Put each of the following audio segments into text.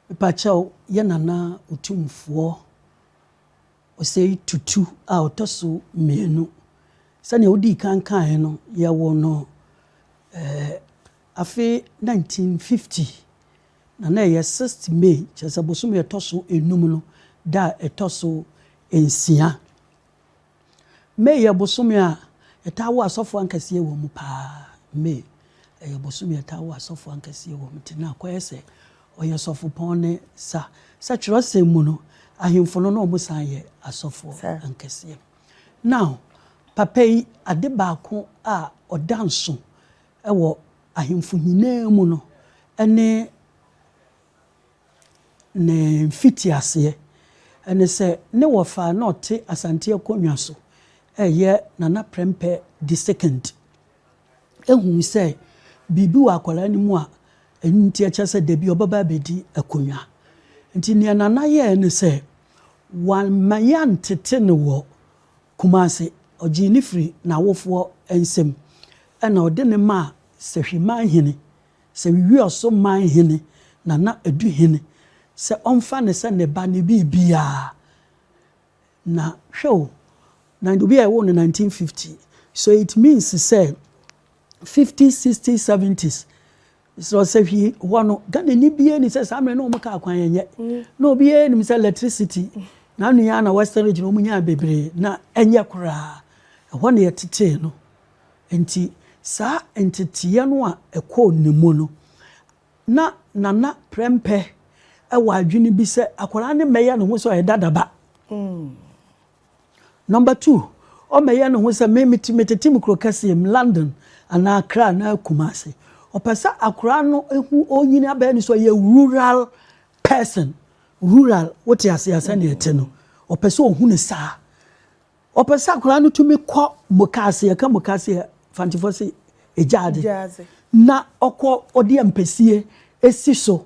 Mepakyɛw yɛn Nana Otumfoɔ Osei Tutu a ɔtɔ so mmienu. Sɛnea wodii kan kae no, yɛwoo no eh, afe 1950, na na ɛyɛ 6th May, kyerɛ sɛ bosome a ɛtɔ so enum no, da a ɛtɔ so nsia. May yɛ bosome a ɛtaa wo asɔfoɔ ankaseɛ wɔ mu paa. May ɛyɛ bosome a ɛtaa wo asɔfoɔ ankaseɛ wɔ mu. Nti na akɔyɛ sɛ ɔyɛ sɔfopɔn ne sa. Sɛ twerɛsɛm mu no, ahemfo no na wɔn san yɛ asɔfoɔ ankaseɛ. Now, papa yi, ade baako a ɔda nso wɔ ahemfo nyinaa mu no, ɛne ne mfitiaseɛ, ɛne sɛ ne wɔfa a na ɔte Asante akonnwa so reyɛ Nana Prempeh the Second huu sɛ biribi wɔ akwadaa no mu a ɛno nti ɛkyerɛ sɛ dabi ɔbɛba abɛdi akonnwa. Nti nea Nana yɛɛ ne sɛ wamma yɛantete no wɔ Kumase, ɔgyee no firi n'awofoɔ nsam ɛna ɔde no maa Sahwiman hene. Sɛ wiwi ɔso man hene na na edi hene sɛ ɔmfa no sɛ ne ba ne biribiara. Na hwɛ o, na obi a yɛwoo no nineteen fifty, so it means sɛ fifties, sixties, seventies, sɛ ɔsahwi hɔ no, Ghanani biara nni sɛ saa mmerɛ no wɔn kaa kwan ɛnyɛ. Na obiara nim sɛ electricity, na nua na Western region wɔn nyaa bebree, na ɛnyɛ koraa. Ɛhɔ na yɛtetee no. Enti saa nteteeɛ no a ɛkɔɔ ne mu no, na Nana Prempeh wɔ adwene bi sɛ akwadaa no mmɛyɛ ne ho sɛ ɔyɛ dada ba. Number two, ɔmmɛyɛ ne ho sɛ me mete metete me kuro kɛseɛ mu, London anaa Accra anaa Kumasi. Ɔpɛ sɛ akwadaa no hu ɔnyini abɛyɛ ne sɛ ɔyɛ rural person. Rural, wote aseɛ sɛdeɛ ɛte no, ɔpɛ sɛ ɔhu ne saa. Wɔpɛ sɛ akwadaa no tumi kɔ mukaase, yɛka mukaase a Fantifoɔ se egyaadze. Gyaadze. Na ɔkɔ ɔde ampesie esi so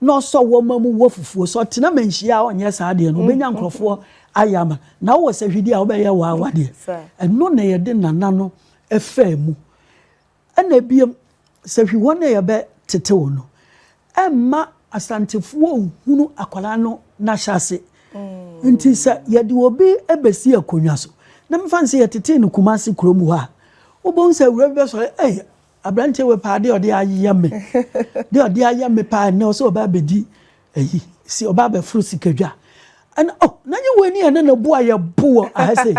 na ɔsɔ wɔma mu wɔ fufuo. Sɛ ɔtena manhyia a ɔnyɛ saa deɛ no ɔbɛnya nkorɔfoɔ ayɛ ama no. Na wowɔ sahwidi a wobɛyɛ waawa deɛ. Saa. Ɛno na yɛde nana no faa mu. Ɛna biom, sɛ hwi hɔ na yɛbɛ tetew no, ɛmma Asantefoɔ nhunu akwadaa no n'ahyɛase. Nti sɛ yɛde obi bɛsi akonnwa so, na mefa no sɛ yɛtetee no Kumasi kurom hɔ a, wobɛhu sɛ awura bi bɛsɔre, ei, aberanteɛ wei paa, deɛ ɔde ayɛ me, deɛ ɔde ayɛ me paa, ɛnnɛ ɔsɛ ɔba abɛdi Ayi si ɔba abɛforo sikadwa ɛna oh na nye wɔn ani a na na bu ayɛ bo wɔ aha sei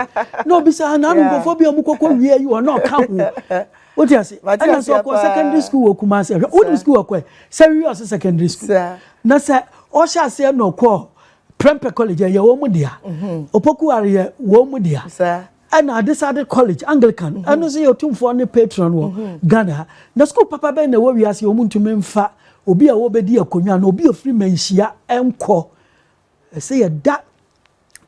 na obi sɛ ana anum nkɔfɔ bi a wɔn kɔkɔ wie ayi wɔn na ɔka ho o ti ase ɛna sɛ ɔkɔ secondary school wɔ Kumasi ɛhwɛ wɔn nim school ɔkɔ yɛ sɛ wi ɔsɛ secondary school na sɛ ɔhyɛ aseɛ na ɔkɔ prempeh college ɛyɛ wɔn mu dea opoku are yɛ wɔn mu dea ɛna adesade college anglican mhm. ɛno nso yɛ otumfoɔ ne patron wɔ mhm. ghana ha na sukuu papa bɛn na ɛwɔ wiase wɔn ntumi nfa obi a wɔbɛdi akonnwa na obi a ofiri manhyia nkɔ ɛsɛ yɛda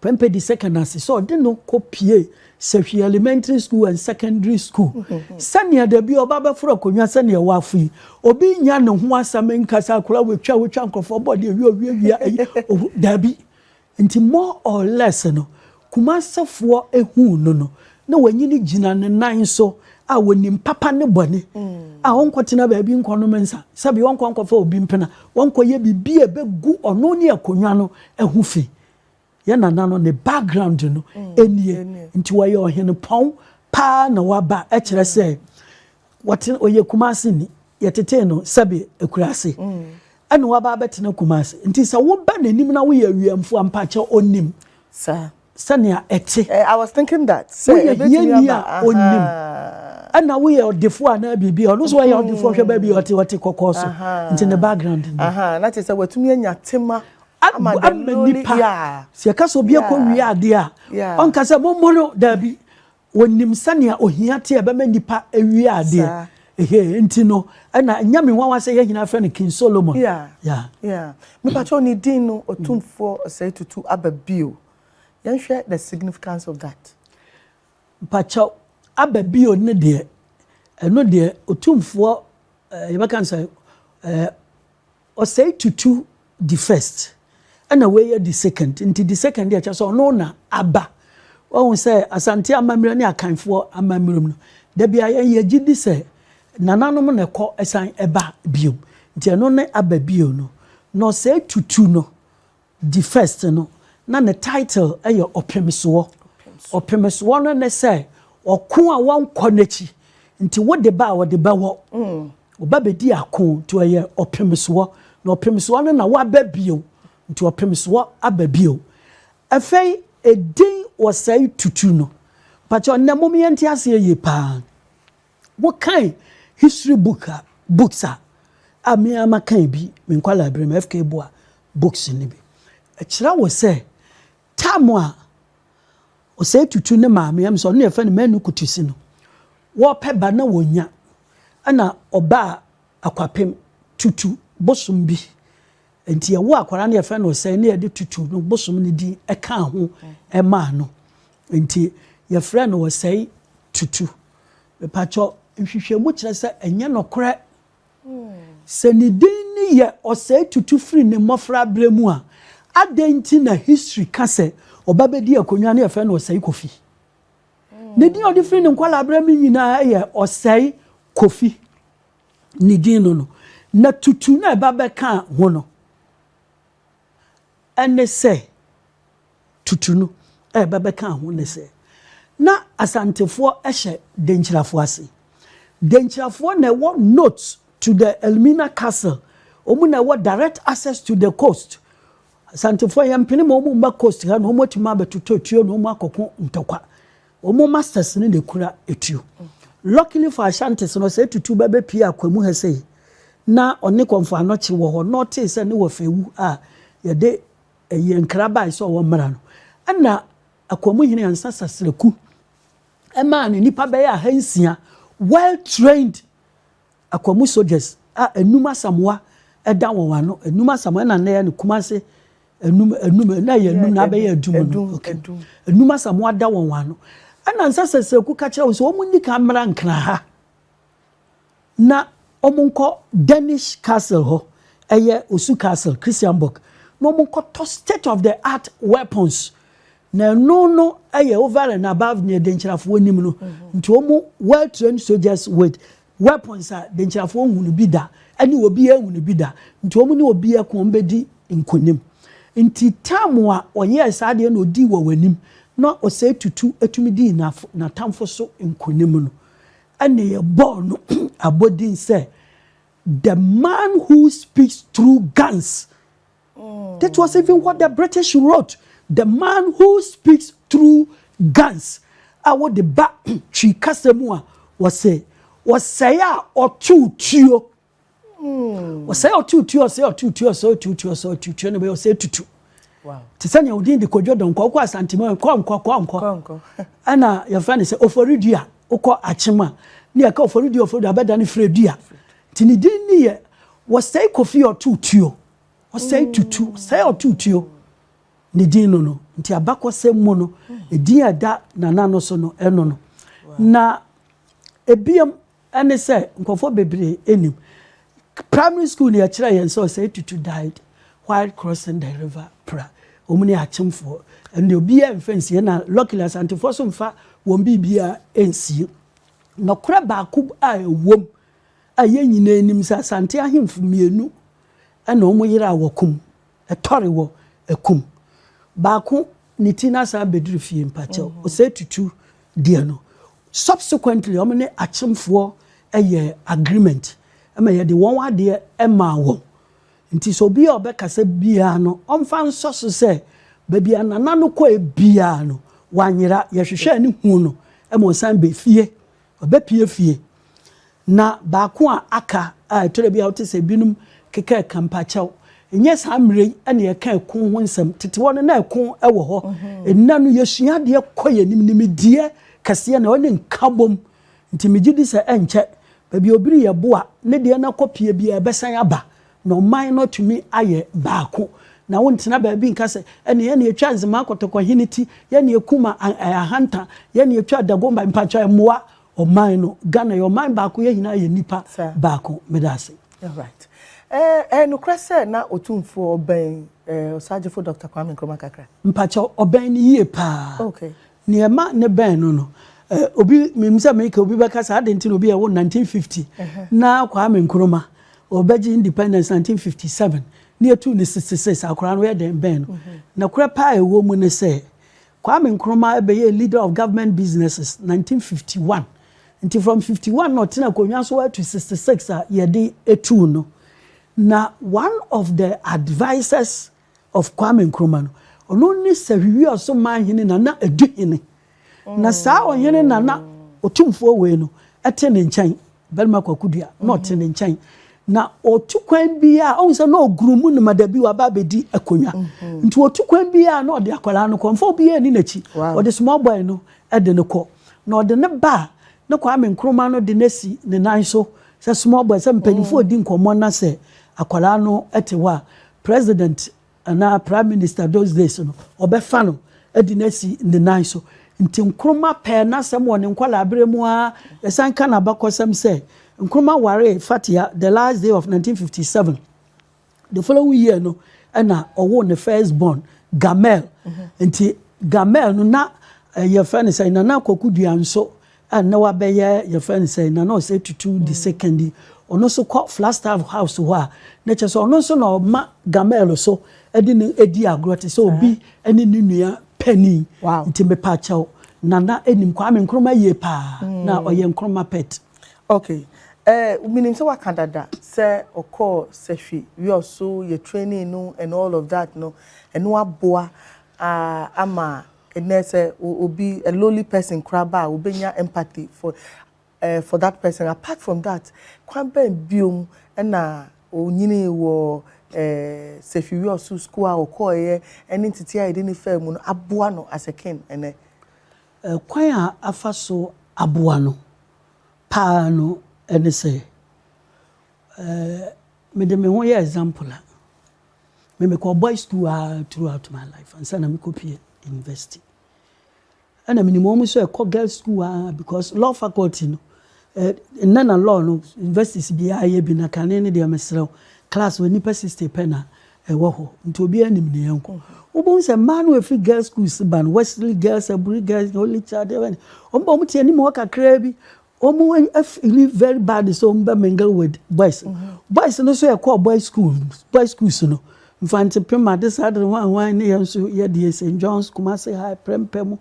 pɛmpɛ di second ase sɛ ɔde no kɔ pie sɛhwi elementary school and secondary school mhm. sɛnea dabi ɔba bɛforo akonnwa sɛnea ɛwɔ afo yi obi nya ne ho asɛm nkasa akora wotwa wotwa nkurɔfoɔ bɔ deɛ wia wia wia ɛyi dabi. Nti more or less no, Kumasefoɔ huu no no, na wanyini gyina ne nan so a wɔnim papa ne bɔne, a ɔnkɔtena baabi nkɔnom nsa, sɛbi ɔnkɔ nkɔfa obi mpena, ɔnkɔyɛ biribi a ɛbɛgu ɔno ne akonnwa no ho fi. Yɛn nana no, ne background no nie. Nti ɔyɛ ɔhenepɔn paa na waba, ɛkyerɛ sɛ Wɔte, ɔyɛ Kumasi ni. Yɛtetee no sɛbe Akurase. Ɛna waba abɛtena Kumasi. Nti sɛ woba n'anim na woyɛ awiɛmfoɔ a, mpakyɛ ɔnim sɛnea ɛte. Eh, I was thinking that. Sɛ woyɛ hiani a, ɔnim. Ɛna woyɛ ɔdefoɔ anaa biribi a, ɔno nso ɔyɛ ɔdefoɔ hwɛ baabi a ɔte, ɔte kɔkɔɔ so. Nti ne background ni. Na kyerɛ sɛ watumi anya tema ama the lowly. Sɛ yɛka sɛ obi akɔwie adeɛ a, ɔnka sɛ mommɔ no, daabi. Wɔnim sɛnea ohia te a ɛbɛma nnipa awia adeɛ. Saa. Ehe, nti no, ɛna ɛnyɛ me nwanwa sɛ yɛn nyinaa frɛ no King Solomon. Yeah, Yeah. yeah. Mepakyɛw ne din no, Otumfoɔ Osei Tutu aba bio. Yɛnhwɛ the significance of that. Mepakyɛw, aba bio no deɛ, ɛno deɛ, Otumfoɔ, eh, yɛbɛka no sɛ, eh, Ɔsɛe tutu di first ɛna wei adi second nti di second deɛ kyerɛ sɛ ɔno na aba wahu sɛ Asante amammerɛ ne Akanfoɔ amammerɛm no dabia yɛn yɛgye di sɛ nananom na ɛkɔ ɛsan ɛba biom nti ɛno ne aba bio no na ɔsɛe tutu no The First no, na ne title yɛ Ɔpemsoɔ. Ɔpemsoɔ no ne sɛ ɔko a wɔnkɔ n'akyi nti wode ba a ɔde bɛwɔ. Ɔba bɛdi ako nti ɔyɛ ɔpemsoɔ. Na ɔpemsoɔ no na waba bio nti ɔpemsoɔ aba bio. Afei edin ɔsɛe tutu no, mpakyɛw nnɛ mom yɛnte aseɛ yie paa. Wokan history book a books a a me ara makan bi me nkwadaa bere mu FK Boa books no bi. Ɛkyerɛ wo sɛ time a ɔsɛe tutu ne maame am sɛ ɔno na yɛfrɛ no manu kutisi no wɔpɛ ba na wɔnya ɛna ɔbaa akwapem tutu bosom bi Enti yɛwoo akwadaa no yɛfrɛ no Osei na yɛde Tutu no bosom no din kaa ho maa no. Enti yɛfrɛ no Osei Tutu. Mepakyɛw, nhwehwɛmu kyerɛ sɛ ɛnyɛ nokorɛ. Sɛ ne din no yɛ Osei Tutu firi ne mmɔfraberɛ mu a, adɛn nti na history ka sɛ ɔba bɛdii akonnwa na yɛfrɛ no Osei Kofi? Ne din a ɔde firi ne nkwadaa berɛ mu nyinaa yɛ Osei Kofi. ne din no no, na tutu no a ɛba bɛka ho no ne sɛ, tutu no a ɛba bɛka ho ne sɛ, na Asantefoɔ hyɛ Denkyirafoɔ ase. Denkyirafoɔ na ɛwɔ notes to the Elmina Castle, wɔn na ɛwɔ direct access to the coast. Asantefoɔ yɛmpene ma wɔn mma coast ha na wɔatumi abɛtotɔ tuo na wɔn akɔko ntɔkwa. Wɔn masters no na ekura etuo. Luckily for Ashantis no, sɛ etutu ba bepue Akwa mu ha sei, na ɔne Kɔmfo Anokye wɔ hɔ, na ɔtee sɛ ne wɔfa awu a, yɛde ɛyi nkra bae sɛ wɔmmra no. Ɛna Akwa mu hene Ansa Sasraku maa no nnipa bɛyɛ ahansia, well trained Akwa mu soldiers a anum asamoa da wɔn ano, anum asamoa na nnɛ yɛ no Kumase anum anum na ɛyɛ anum na abɛyɛ adum no okay anum asamoa da wɔn ano ɛna nsa sɛsɛku ka kyerɛ wɔn sɛ wɔn nni kan mmra nkran ha na wɔn nkɔ Danish castle hɔ ɛyɛ osu castle Christianborg na wɔn nkɔtɔ state of the art weapons Na ɛno no yɛ over and above nea denkyirafoɔ nim no, nti wɔn well trained soldiers with weapons a denkyirafoɔ nhu no bi da, ɛne obiara nhu no bi da, nti wɔn ne obiara ko wɔn bɛdi nkonim. Nti time a ɔyɛɛ saa adeɛ na ɔdii wɔ w'anim na ɔsɛe tutu tumi dii n'atamfo so nkonim no, ɛne yɛbɔɔ no abɔdin sɛ the man who speaks through guns. That was even what the British wrote. The man who speaks through guns a wɔde ba twi kasa mu a wɔsɛ wɔsɛe a ɔtow tuo. Wɔsɛe a ɔtow tuo, ɔsɛe ɔtow tuo, ɔsɛe ɔtow tuo, ɔsɛe ɔtow tuo na bɛyɛ ɔsɛe tutu. Te sɛ nea odin de kodwo dɔnkɔ wokɔ asantema kɔ nkɔ kɔ nkɔ ɛna yɛfrɛ no sɛ oforidua wokɔ akyem a ne yɛka oforidua oforidua bɛda no firidua nti ne din ne yɛ wɔsɛe kofi ɔtow tuo. Ɔsɛe tutu, sɛe ɔtutuo, ne din no no. Nti abakɔsɛm mu no, edin a ɛda nana no so no, ɛno no. Na ebiam ɛne sɛ nkurɔfoɔ bebree anim. Primary school ni ɛkyerɛ yɛn sɛ ɔsɛe tutu died while crossing the river pra. Wɔn ne akyemfoɔ. Ɛnde obiara mfa nsie na luckily asantefoɔ so mfa wɔn biribiara nsie. Nɔkorɛ baako a ɛwom a yɛn nyinaa nim sɛ asante ahemfo mmienu ɛna ɔmo yere a wɔkum, ɛtɔre wɔ ɛkum baako ne ti na asan abɛduru fie mpakyɛw mm-hmm. ɔsɛ tutu deɛ no subsequently ɔmo ne akyemfoɔ ɛyɛ agreement ɛma yɛde wɔn adeɛ ɛmaa wɔn nti sɛ obi a ɔbɛkasa biara no ɔmfa nsɔ so sɛ baabi a nana no kɔɛ biara no wanyera yɛhwehwɛ ne hu no ɛma ɔsan bɛfie Ɔbɛpue fie. Na baako a aka a ɛtɔ da bi a wote sɛ ebinom keka ɛka mpakyɛw, ɛnyɛ saa mmerɛ yi na yɛka ɛko ho nsɛm. Tete hɔ no, na ɛko wɔ hɔ. Ɛnnɛ no, yɛsua adeɛ kɔ yɛn anim. Nimdeɛ kɛseɛ na wɔne nkabom. Nti megye di sɛ ɛnkyɛ, baabi a obi reyɛ boa, ne deɛ no akɔpue biara, ɛbɛsan aba. Na ɔman no atumi ayɛ baako. Na wontena baabi nka sɛ, ɛne yɛne yɛtwaa Nzema Kɔtɔkɔ hene ti, yɛne yɛkum Ahanta, yɛne yɛtwaa Dagomba, mpakyɛw ɛmmoa ɔman no. Ghana yɛ ɔman baako, yɛn nyinaa yɛ nnipa baako. Meda ase. Alright. Ɛyɛ nokorɛ sɛ na Otumfoɔ ɔbɛn Ɔsaagyefo Dɔkta Kwame Nkrumah kakra? Mpakyɛw, ɔbɛn no yie paa. Okay. Nea ɛma ne bɛn no no, obi, minim sɛ meka a obi bɛka sɛ adɛn nti na obi a ɔwoo no 1950 na Kwame Nkrumah, ɔbɛgye independence 1957 na yɛtuu no 66 a, akwadaa no yɛ dɛn bɛn no? Nokorɛ paa a ɛwɔ mu ne sɛ, Kwame Nkrumah bɛyɛɛ leader of government businesses 1951, nti from 51 na ɔtena akonnwa so ara to 66 a yɛde tuu no, na one of the advisers of Kwame Nkrumah no, ɔno ne Sahwihwia so man hene Nana Adu hene. Na saa ɔhene Nana Otumfoɔ wei no te ne nkyɛn, Barima Kwaku Dua, na ɔte mm-hmm. ne nkyɛn. Na ɔtu kwan biara, ɔhu sɛ na ɔguru mu noma da bi waba abɛdi akonnwa. Mm-hmm. Nti ɔtu kwan biara na ɔde akwadaa no kɔ, mfa obiara ni n'akyi. Ɔde small boy no de no kɔ. Na ɔde ne ba a ne Kwame Nkrumah no de no asi ne nan so sɛ small boy, sɛ mpanyinfoɔ mm. di nkɔmmɔ na sɛ akwadaa no te hɔ a President anaa Prime Minister those days no, ɔbɛfa no de no asi ne nan so. Nti Nkrumah pɛɛ n'asɛm wɔ ne nkwadaa-berɛ mu ara. Yɛsan ka n'abakɔsɛm sɛ, Nkrumah waree Fathia the last day of 1957. The following year no ɛna ɔwoo ne first born, Gamel. Nti Gamel no na eh, yɛfrɛ no sɛ Nana Koku Duanso a nna ɔabɛyɛ yɛfrɛ no sɛ na na ɔsɛ etutu the second yi, ɔno nso kɔ Flagstaff House hɔ a, na kyerɛ sɛ ɔno nso na ɔma Gameil so de no di agorɔ te sɛ obi ne ne nua panin. Nti mepa kyɛw, Nana nim Kwame Nkrumah yie paa, na ɔyɛ Nkrumah pet. Ok, eh, menim sɛ woaka dada sɛ ɔkɔɔ sahwi wiɔso, yɛ trainee no and all of that no, ɛno aboa ah ama Ɛnnɛ sɛ obi, a lowly person koraa ba a, wobɛnya empathy for eh, for that person. Apart from that, kwan bɛn biom na ɔnyinii wɔ eh, Sefiwiɔso school a ɔkɔɔeɛ ɛne nteteɛ a yɛde no faa mu no aboa no as a kin ɛnnɛ? Eh, kwan a afa so aboa no paa no ɛne sɛ, eh, mede me ho yɛ example a, Me mekɔɔ boys school ara throughout my life ansa na mekɔpue university. Ɛna menim wɔn nso ɛkɔ girls school ara because law faculty no nnɛ na law no universities biara yɛ bi na kane no deɛ mesrɛ wo class wɔ nnipa 60 pɛ na ɛwɔ hɔ nti obiara nim ne yɛn kɔ wobɛhu sɛ mmaa no ɛfiri girl schools ba no wesley girls aburi girls holy child wɔn ba wɔn te anim hɔ kakraa bi wɔn afili very bad sɛ wɔn bɛ mingle with boys boys no nso yɛ kɔɔ boys school boys schools no nfante pema de saa de hwan hwan ne yɛn nso yɛ deɛ st john's kumase high prɛmpɛ mu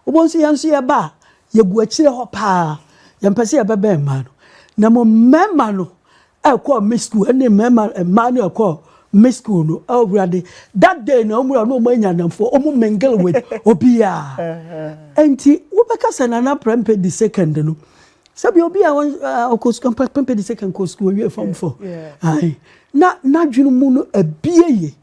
wɔn nso yɛn nso yɛ ba yɛgu akyire hɔ paa yɛn pɛ sɛ yɛbɛbɛn mmaa no na mo mmarima no ɛkɔ me school ɛne mmarima mmaa no ɛkɔ me school no awurade oh, that day na wɔn wura no wɔn anya anamfoɔ wɔn mingle with obiara uh-huh. nti wobɛka sɛ nana prɛmpɛ di second no sɛbi obi a ɔkɔ sukuu mpa pɛmpɛ de second kɔ sukuu owie fam fɔ ayi na n'adwene mu no abie yie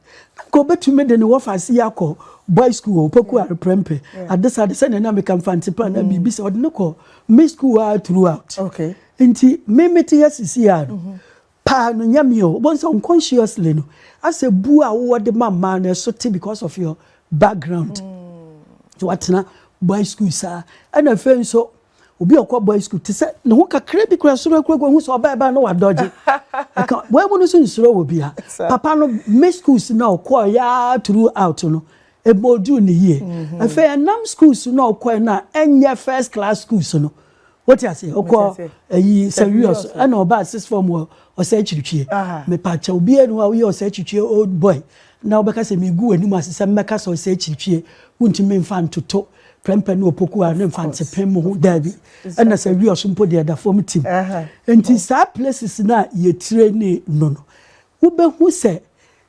nka obetumi de ne wɔfa ase akɔ boy school opoku are pɛmpɛ adesa de sɛ ne nam ka nfante pa na biribi sɛ ɔde ne kɔ me school a throughout. Okay. Nti me mete ha sisi a no, paa no nyɛ me o. Wobɛhu sɛ unconsciously no, asɛ bu a wowɔ de ma mmaa no, ɛso te because of your background. Nti watena boys school saa. Ɛna afei nso, obi a ɔkɔ boys school, te sɛ ne ho kakra bi kura soro akura kura, hu sɛ ɔbaa ɛbaa na wadɔgye. Ɛka wɔn mu no nso nsuro wɔ bia. Papa no, me schools na ɔkɔɔ yaa throughout no, ɛma ɔduu ne yie. Afei ɛnam schools na ɔkɔɛ no a, ɛnyɛ first class schools no. Wote aseɛ? Ɔkɔ ayi Sɛwiɔs ɛna ɔbaa six form wɔ ɔsɛ akyirikwie. Mepakyɛ obiara ni hɔ a woyɛ ɔsɛ akyirikwie old boy na wobɛka sɛ megu w'anim ase sɛ mmɛka sɛ ɔsɛ akyirikwie. Wontumi mfa ntoto prɛmpɛ ne opoku a ne mfa nsepem mo ho. Daabi. Ɛna Sɛwiɔs mpo deɛ ɛda fam tim. Nti saa places no a yɛ traini no no wobɛhu sɛ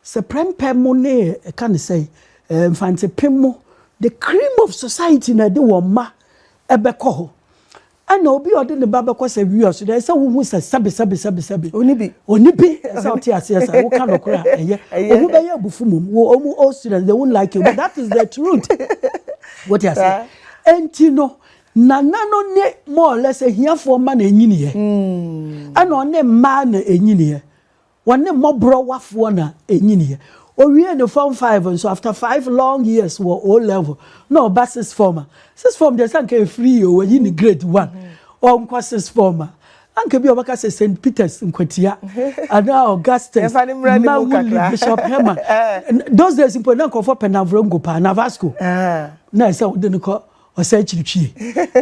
sɛ prɛmpɛ mo ne ɛka ne sɛn mfa nsepem mo the cream of society na ɛde wɔn mma Ɛbɛkɔ hɔ. Ɛna obi a ɔde ne ba bɛkɔ sɛ wia so deɛ, ɛsɛ sɛ wohu sɛ sɛbe sɛbe sɛbe sɛbe. Ɔni bi. Ɔni bi. Ɛsɛ sɛ wote aseɛ saa. Woka nokorɛ a, ɛyɛ. Wɔn bɛyɛ abufu mmom. Wo, wɔn old students, they won't like you, but that is the truth. Wote aseɛ? Saa. Enti no, Nana no ne more or less ahiafoɔ mma na ɛnyiniiɛ. Ɛna ɔne mmaa na ɛnyiniiɛ. Wɔne mmɔborɔwafoɔ na ɛnyiniiɛ. Ɔwiee ne Form Five nso, after five long years wɔ O-Level, na ɔba Sixth Form a, Sixth Form deɛ sɛ anka ɛfiri yie o, wɔayi no Grade One, ɔnkɔ Sixth Form a, anka ebia wɔbɛka sɛ Saint Peter's, Nkwatia, anaa Augustus, Mawuli, Bishop Herman. Those days mpo, na nkurɔfoɔ pɛ Navrongo paa, Navasco, na ɛsɛ sɛ wode no kɔ. ɔsɛakyirikyiɛ.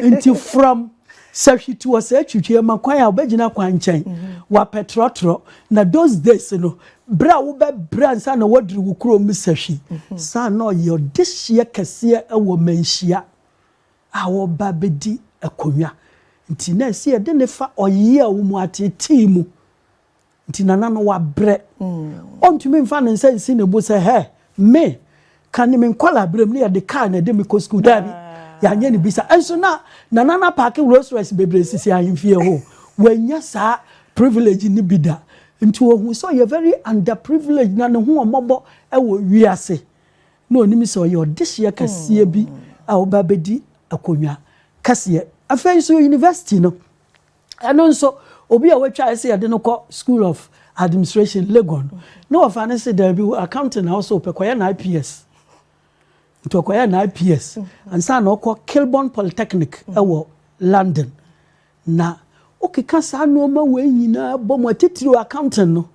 Enti fram sɛ hwitu ɔsɛakyirikyiɛ ma kwan a wobɛgyina kwan nkyɛn, wapɛ trɔtrɔ, na those days no, berɛ a wobɛbrɛ ansa na woaduru wo kurom no sahwi. Saa na ɔyɛ ɔdehyeɛ kɛseɛ wɔ manhyia a wɔba bɛdi akonwa. Nti na ɛsɛ yɛde no fa ɔyea wo mu ateetee mu. Nti Nana no wabrɛ. Ɔntumi mfa ne nsa nsi ne bo sɛ, hɛ, me, ka ne me nkɔlaaberɛm na yɛde kaa na ɛde me kɔ sukuu. Daabi, yɛanyɛ ne bi saa. Ɛnso na Nana no apaake Rolls Royce bebree sisi ahemfie hɔ. Wannya saa privilege no bi da. Nti ɔhuu sɛ ɔyɛ very underprivileged na ne ho ɔmmɔbɔ wɔ wiase. Na ɔnim sɛ ɔyɛ ɔdehyeɛ kɛseɛ bi a ɔreba abɛdi akonnwa kɛseɛ. Afei nso university no. Ɛno nso, obi a watwa sɛ yɛde no kɔ School of Administration, Legon no, na wɔfa no sɛ daabi wo accounting na wosɛ wopɛ, kɔyɛ na IPS. Nti ɔkɔyɛ na IPS ansa na ɔkɔ Kilburn Polytechnic wɔ London. Na wokeka saa nneɛma wei nyinaa bɔ mu a, titiriw accounting no,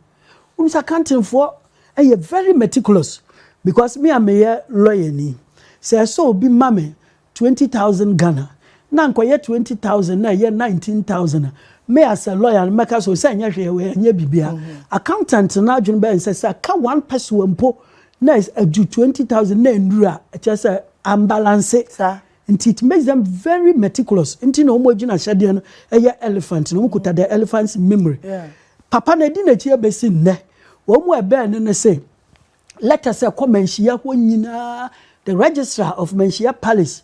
wonim sɛ accountingfoɔ yɛ very meticulous because me a meyɛ lɔyani, sɛ ɛsɛ obi ma me Twenty thousand Ghana na anka ɔyɛ twenty thousand na ɛyɛ nineteen thousand a, me as a lawyer no mɛka sɛ ɔsɛ ɛnyɛ hwee wɔ ɛnyɛ biribiara. Accountant no adwene bɛyɛ sɛ sɛ ɛka one pɛsoa mpo na ɛdu twenty thousand na ɛnnuru a, ɛkyerɛ sɛ ambalanse. Saa. Nti it makes them very meticulous. Nti na wɔn agyinahyɛdeɛ no ɛyɛ elephant no, wɔn kuta the elephant's memory. Yeah. Papa no ɛdi n'akyi ɛbɛsi nnɛ. Wɔn mu ɛbɛn no ne se, lɛtɛs a ɛkɔ manhyia hɔ nyinaa, the registrar of manhyia palace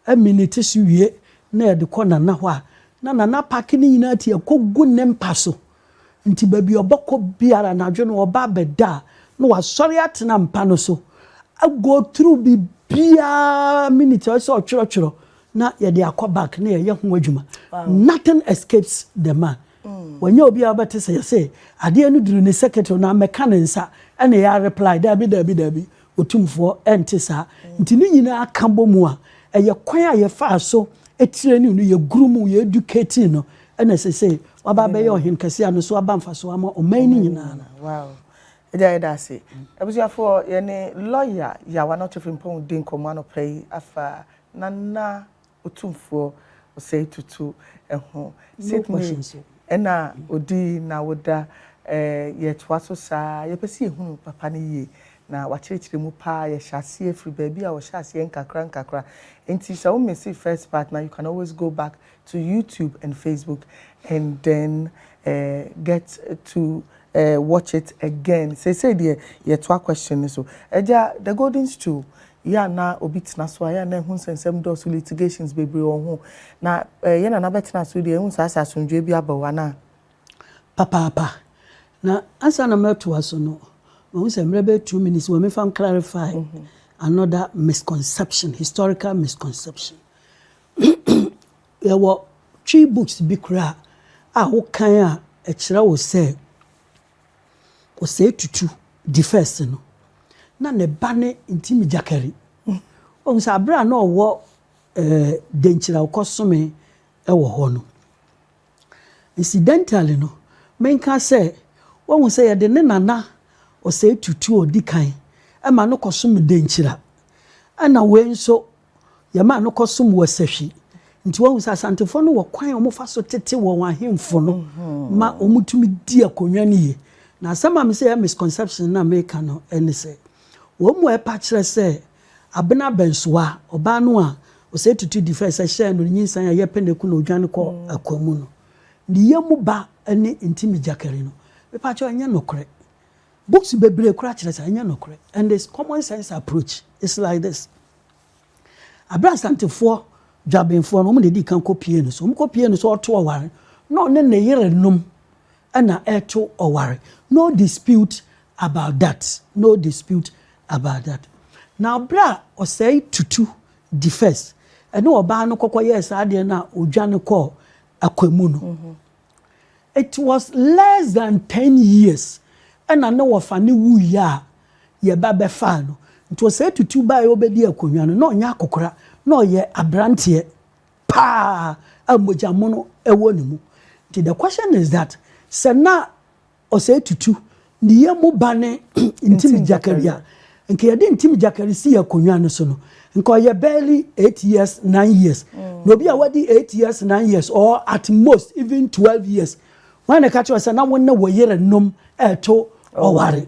aminiti so wie na yɛde kɔ Nana hɔ a, na Nana apake ne nyinaa ti ɛkɔgu ne mpa so. Nti baabi a ɔbɛkɔ biara anadwo no ɔba abɛda a, na wasɔre atena mpa no so ago through biribiara miniti a ɔsɛ sɛ ɔtwerɛtwerɛ na yɛde akɔ back na yɛyɛ ho adwuma. Nothing escapes the man. Wanya obi a ɔbɛte sɛ yɛ se adeɛ no duru ne secretary na mmɛka ne nsa ɛna yɛ a reply daabi daabi daabi Otumfoɔ ɛnte saa nti ne nyinaa ka bɔ mu a ɛyɛ kwan a yɛfaa so training no yɛ groomuu yɛ educating no ɛna sesei waba abɛyɛ Ɔhene kɛseɛ a no so aba mfasoɔ ama ɔman no nyinaa no. Wow Agya yɛda ase. Abusuafoɔ yɛne Lawyer Yawa Notefrimpong redi nkɔmmɔ anɔpa yi afa Nana Otumfoɔ Osei Tutu ho. Sydney ɛna odi nawoda eh yɛtoa so saa yɛpɛ sɛ yɛhunu papa no yie na wakyerɛkyerɛ mu paa yɛhyɛ aseɛ firi baabi a ɔhyɛ aseɛ nkakra nkakra nti sɛ wo missee first part no a you can always go back to YouTube and Facebook and then eh get to eh watch it again seisei deɛ yɛtoa question no so Agya the golden stool yɛ a na obi tena so a yɛ a na ɛho nsɛnsɛm dɔɔso, litigations bebree wɔ ho. Na eh, yɛ na na bɛtena so deɛ, ɛhu saa sɛ asomdwoe bi aba o, anaa? Papaapa. Na ansa na mɛtoa so no, mahu sɛ mmerɛ bɛyɛ two minutes wɔ mefa clarify mm -hmm. another misconception, historical misconception. Yɛwɔ twi books bi koraa a wokan a ɛkyerɛ wo sɛ Osei Tutu di first no, na ne ba ne Ntimi Gyakari. Wohu sɛ bere a na ɔwɔ Denkyira ɔkɔsomee wɔ hɔ no, incidentally no, menka sɛ wohu sɛ yɛde ne nana Osei Tutu a ɔdi kan ma no kɔsom Denkyira, ɛnna wei nso, Yɛmaa no kɔsom wɔ sahwi. Nti woahu sɛ Asantefoɔ no wɔ kwan a wɔfa so tete wɔn ahemfo no ma wɔtumi di akonnwa no yie. Na asɛm a mese ɛyɛ misconception no a meka no ne sɛ, wɔn mu a ɛpa kyerɛ sɛ Abena Abɛnsoa, ɔbaa no a Osei Tutu di fɛs sɛ hyɛɛ no nyinsɛn a ɛyɛ pɛ na ɛku no ɔdwane kɔ akoa mu no, ne yam ba ne Ntimi Gyakari no, mepa kyɛw, ɛnyɛ nokorɛ. Books bebree koraa kyerɛ saa. Ɛnyɛ nokorɛ. And it's common sense approach. It's like this. Bere a Asantefoɔ dwabenfoɔ no, wɔn na ɛdii kan kɔpuee no so. Wɔkɔpuee no so ɔto ɔware. Na ɔne ne yerenom na ɛto ɔware. No dispute about that. No dispute about that. Na bere a ɔsɛe tutu di first, ɛne ɔbaa no kɔkɔ yɛɛ saa adeɛ no a ɔdwane kɔɔ akwamu no. Mm-hmm. It was less than ten years ɛna ne wɔfa ne wuiɛ a yɛ ba bɛfaa no. Nti ɔsɛe tutu baeɛ ɔbɛdi akonnwa no, na ɔnyɛ akokora, na ɔyɛ abranteɛ paa a mogya mono wɔ ne mu. Nti the question is that sɛ na ɔsɛe tutu ne yɛ mu ba ne Ntim Gyakari a, nka yɛde Ntim Gyakari si akonnwa no so no, nka ɔyɛ barely eight years, nine years. Mm. Na obi a wadi eight years, nine years or at most even twelve years, wɔn na ɛka kyerɛ sɛ na wɔn ne wɔ yere nom ɛto ɔware.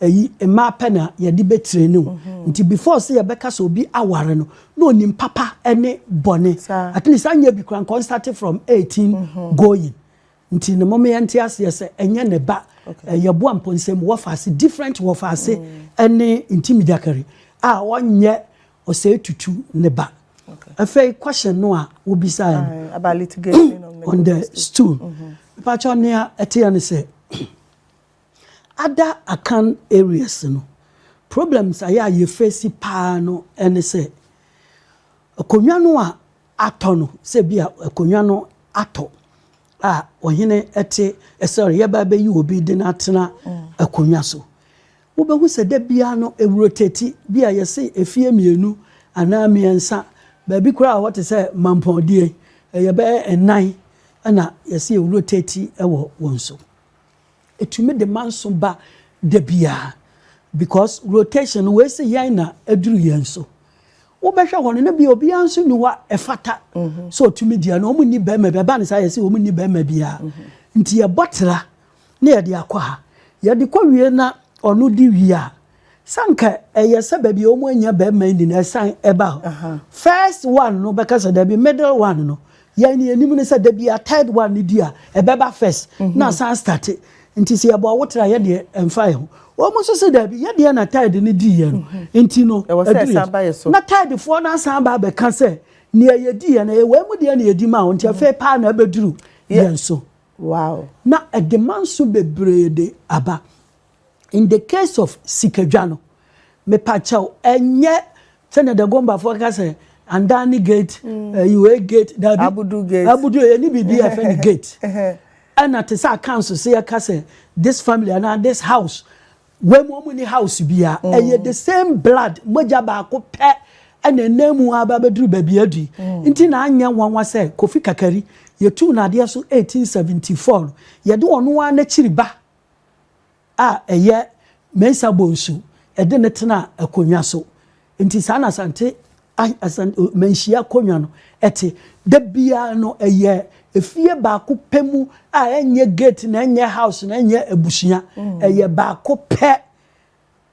Eyi mmaa pɛ na yɛde bɛ training wo nti before sɛ yɛbɛka sɛ obi aware no na onim papa ne bɔne at least anyɛ bi koraa nka ɔn start from eighteen going nti no moma yɛnte aseɛ sɛ ɛnyɛ ne ba yɛboa mpɔnsam wɔfaase different wɔfaase ne ntimigyakari a ɔnyɛ ɔsɛe tutu ne ba afei question no a wobisaeɛ no about litigation on the stool mepakyɛ nea ɛteɛ ne sɛ Other Akan areas no, problems a yɛ a yɛ face paa no ne sɛ, akonwa no a atɔ no, sɛ bi a akonwa no atɔ a ɔhene te sɛ yɛba bɛyi obi de no atena akonwa so. Wobɛhu sɛ da biara no ɛwurotɛti bi a yɛse efie mmienu anaa mmiɛnsa, baabi koraa a hɔ te sɛ mampɔndeɛ, ɛyɛ bɛyɛ nnan na yɛse ɛwurotɛti wɔ wɔn so. Ɛtumi de manso ba da biara because rotation no wei se yɛn na aduru yɛn so. Wobɛhwɛ hɔ no na bi obiara nso ni hɔ a ɛfata sɛ ɔtumi di ɛno. Wɔn nni bɛrima bi ɛba ne saa yɛsi wɔn nni bɛrima biara nti yɛbɔ tra na yɛde akɔ ha yɛde kɔ wie na ɔno di wie a Sɛ anka ɛyɛ sɛ baabi a wɔn anya bɛrima nni na ɛsan ɛba hɔ. First one no bɛka sɛ dabi middle one no yɛn ni anim no sɛ dabi a third one no di a ɛbɛba first mhm. na asan start nti sɛ yɛbɔ ɔwo tra yɛ deɛ ɛnfa yɛ ho wɔn mo nso sɛ dabi yɛ deɛ na third no di yɛ no mhm. nti no ɛdu yɛ na third foɔ no asan ba abɛka sɛ nea yɛdi yɛ no yɛ wɔn mu deɛ na yɛdi ma wɔn nti afei mhm. paa na ɛbɛduru yɛn so na ɛde manso bebree de aba. In the case of sikadwa no, mepakyɛw ɛnyɛ sɛnea Dagombafo ka sɛ Andani gate, ɛyi mm. wei gate, dabi. Abudu gate. Abudu yɛ ni bibi yɛ fɛ ni gate. Ɛna te sɛ akanso sɛ yɛ ka sɛ this family ana this house wɔn mu wɔn ni house bia mm. ɛyɛ the same blood mogya baako pɛ ɛna ɛnam mu aba abɛduru baabi adi mm. nti na anyɛ nwanwa sɛ kofi kakari yɛtu n'adeɛ so 1874 yɛde ɔno ara n'akyiri ba a ɛyɛ Mensah Bonsu de no tenaa akonnwa so. Nti saa na Asante manhyia akonnwa no te. Da biara no ɛyɛ efie baako pɛ mu a ɛnyɛ gate na ɛnyɛ house na ɛnyɛ abusua. Mm. Ɛyɛ baako pɛ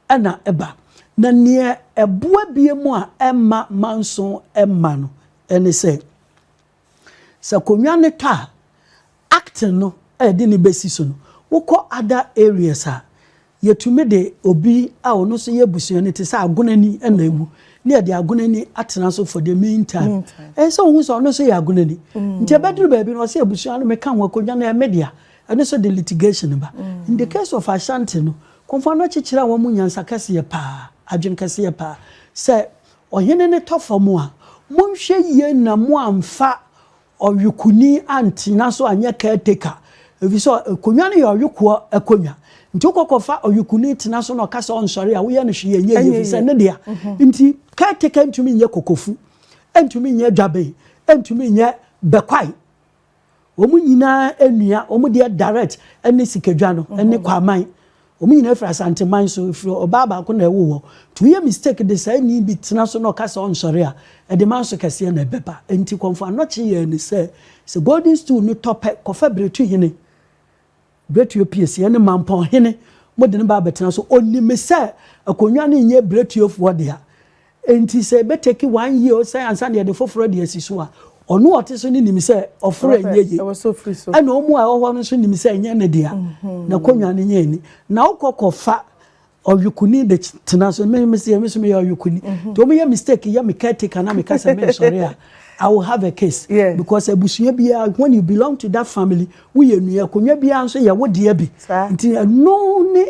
ɛna ɛba. Na neɛ ɛboa bie mu a ɛma manso ɛma no ɛne sɛ Sɛ konwa no tɔ a, acting no a yɛde no besi so no, wokɔ other areas a, yetumi de obi a ɔno nso yɛ abusua no te sɛ agonani nam mu na yɛde agonani atena so for the mean time. Ɛyɛ sɛ wohu sɛ ɔno nso yɛ agonani. Nti ɛbɛduru baabi no, ɔsɛ abusua no meka ho akonwa no ɛyɛ me dea. Ɛno nso de litigation ba. In the case of Ashanti no, Komfoano akyekyere a wɔn mu nyansa kɛseɛ paa, adwene kɛseɛ paa sɛ Ɔhene no tɔ fam a, monhwɛ yie na moamfa ɔyokoni antena so anyɛ caretaker, efisɛ akonnwa no yɛ ɔyokoɔ akonnwa. Nti wokɔ kɔfa ɔyokoni tena so na ɔka sɛ ɔnsɔre a, woyɛ no hwee ɛnyɛ yie, efisɛ ne dea nti. Caretaker ntumi nyɛ kokofu, ɛntumi nyɛ dwaben, ɛntumi nyɛ bɛkwae. Wɔn nyinaa anua, wɔn deɛ direct ne Sikadwa no ne Kwaman. Wɔn nyinaa firi Asanteman so, firi ɔbaa baako na ɛwo hɔ. Nti woyɛ mistake de saa ni bi tena so na ɔka sɛ ɔnsɔre a, ɛde manso kɛseɛ na ɛbɛba. Nti Kɔmfo Anɔkye yɛɛ no sɛ, sɛ Golden Stool no tɔ pɛ, kɔfa Biretuhene. Biretuo Peace, yɛne Mampɔn hene mo de no ba abɛtena so, ɔnim sɛ akonnwa no nyɛ Biretuofoɔ dea, enti sɛ ɛbɛtake one year o sɛ ansa na yɛde foforɔ de asi so a, ɔno a ɔte so no nim sɛ ɔforo ɛnyɛ yie, ɛna wɔn a ɛwɔ hɔ no nso nim sɛ ɛnyɛ ne dea, n'akonnwa no nyɛ ani. Na wokɔ kɔfa Ɔyokuni de tena so. Me me se me so me yɛ ɔyokuni. Mm-hmm. To me yɛ mistake yɛ me caretaker na me ka sɛ me nsɔre a. I will have a case. Yes. Because abusua biara when you belong to that family wo yɛ nua konwa biara nso yɛ wo deɛ bi. Nti ɛno ne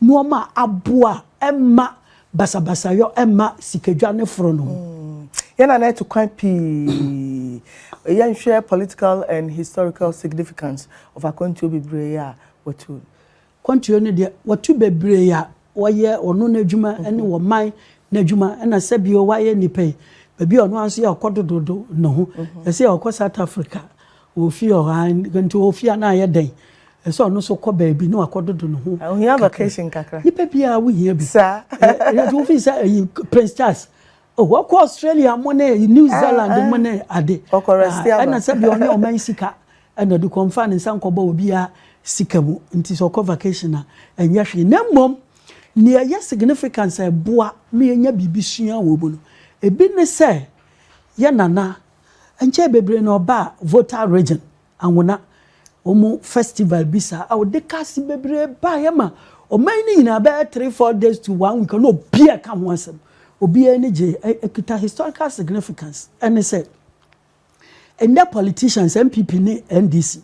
nneɛma aboa ɛma basabasayɔ ɛma sikadwa ne foro no. Mm. Yɛn na na ɛto kwan pii. Yɛn hwɛ political and historical significance of akwantuo bebree a wɔtu. Kwantuo no deɛ watu bebree a wɔyɛ ɔno n'adwuma ne wɔ man n'adwuma ɛna sɛ bio wayɛ nipa yi baabi a ɔno ara nso yɛ ɔkɔ dododo ne ho ɛsɛ ɔkɔ South Africa ofi ɔha nti ofi a na ayɛ dɛn ɛsɛ ɔno nso kɔ baabi na wakɔ dodo ne ho ohia vacation kakra nipa bi a wohia bi saa ɛna nti wofi sɛ ɛyi Prince Charles ɔwɔ oh, kɔ Australia mo ne New ah, Zealand ah. mo ne ade ɛna sɛ bio ɔne ɔman sika Ɛna du kɔ nfa ne nsa nkɔbɔ obiara sika mu nti sɛ ɔkɔ vacation a ɛnyɛ hwee na mmom nea ɛyɛ significance a ɛboa ma yɛnya biribi sua wɔ mu no ebi ne sɛ yɛ nana nkyɛɛ bebree no ɔbaa Volta Region Anwona wɔn festival bi saa a ɔde cars bebree baeɛ ma ɔman no nyinaa bɛyɛ three four days to one week na obiara ka ho asɛm obiara ani gyee ɛkita historical significance ɛne sɛ Ndɛ politicians NPP ne NDC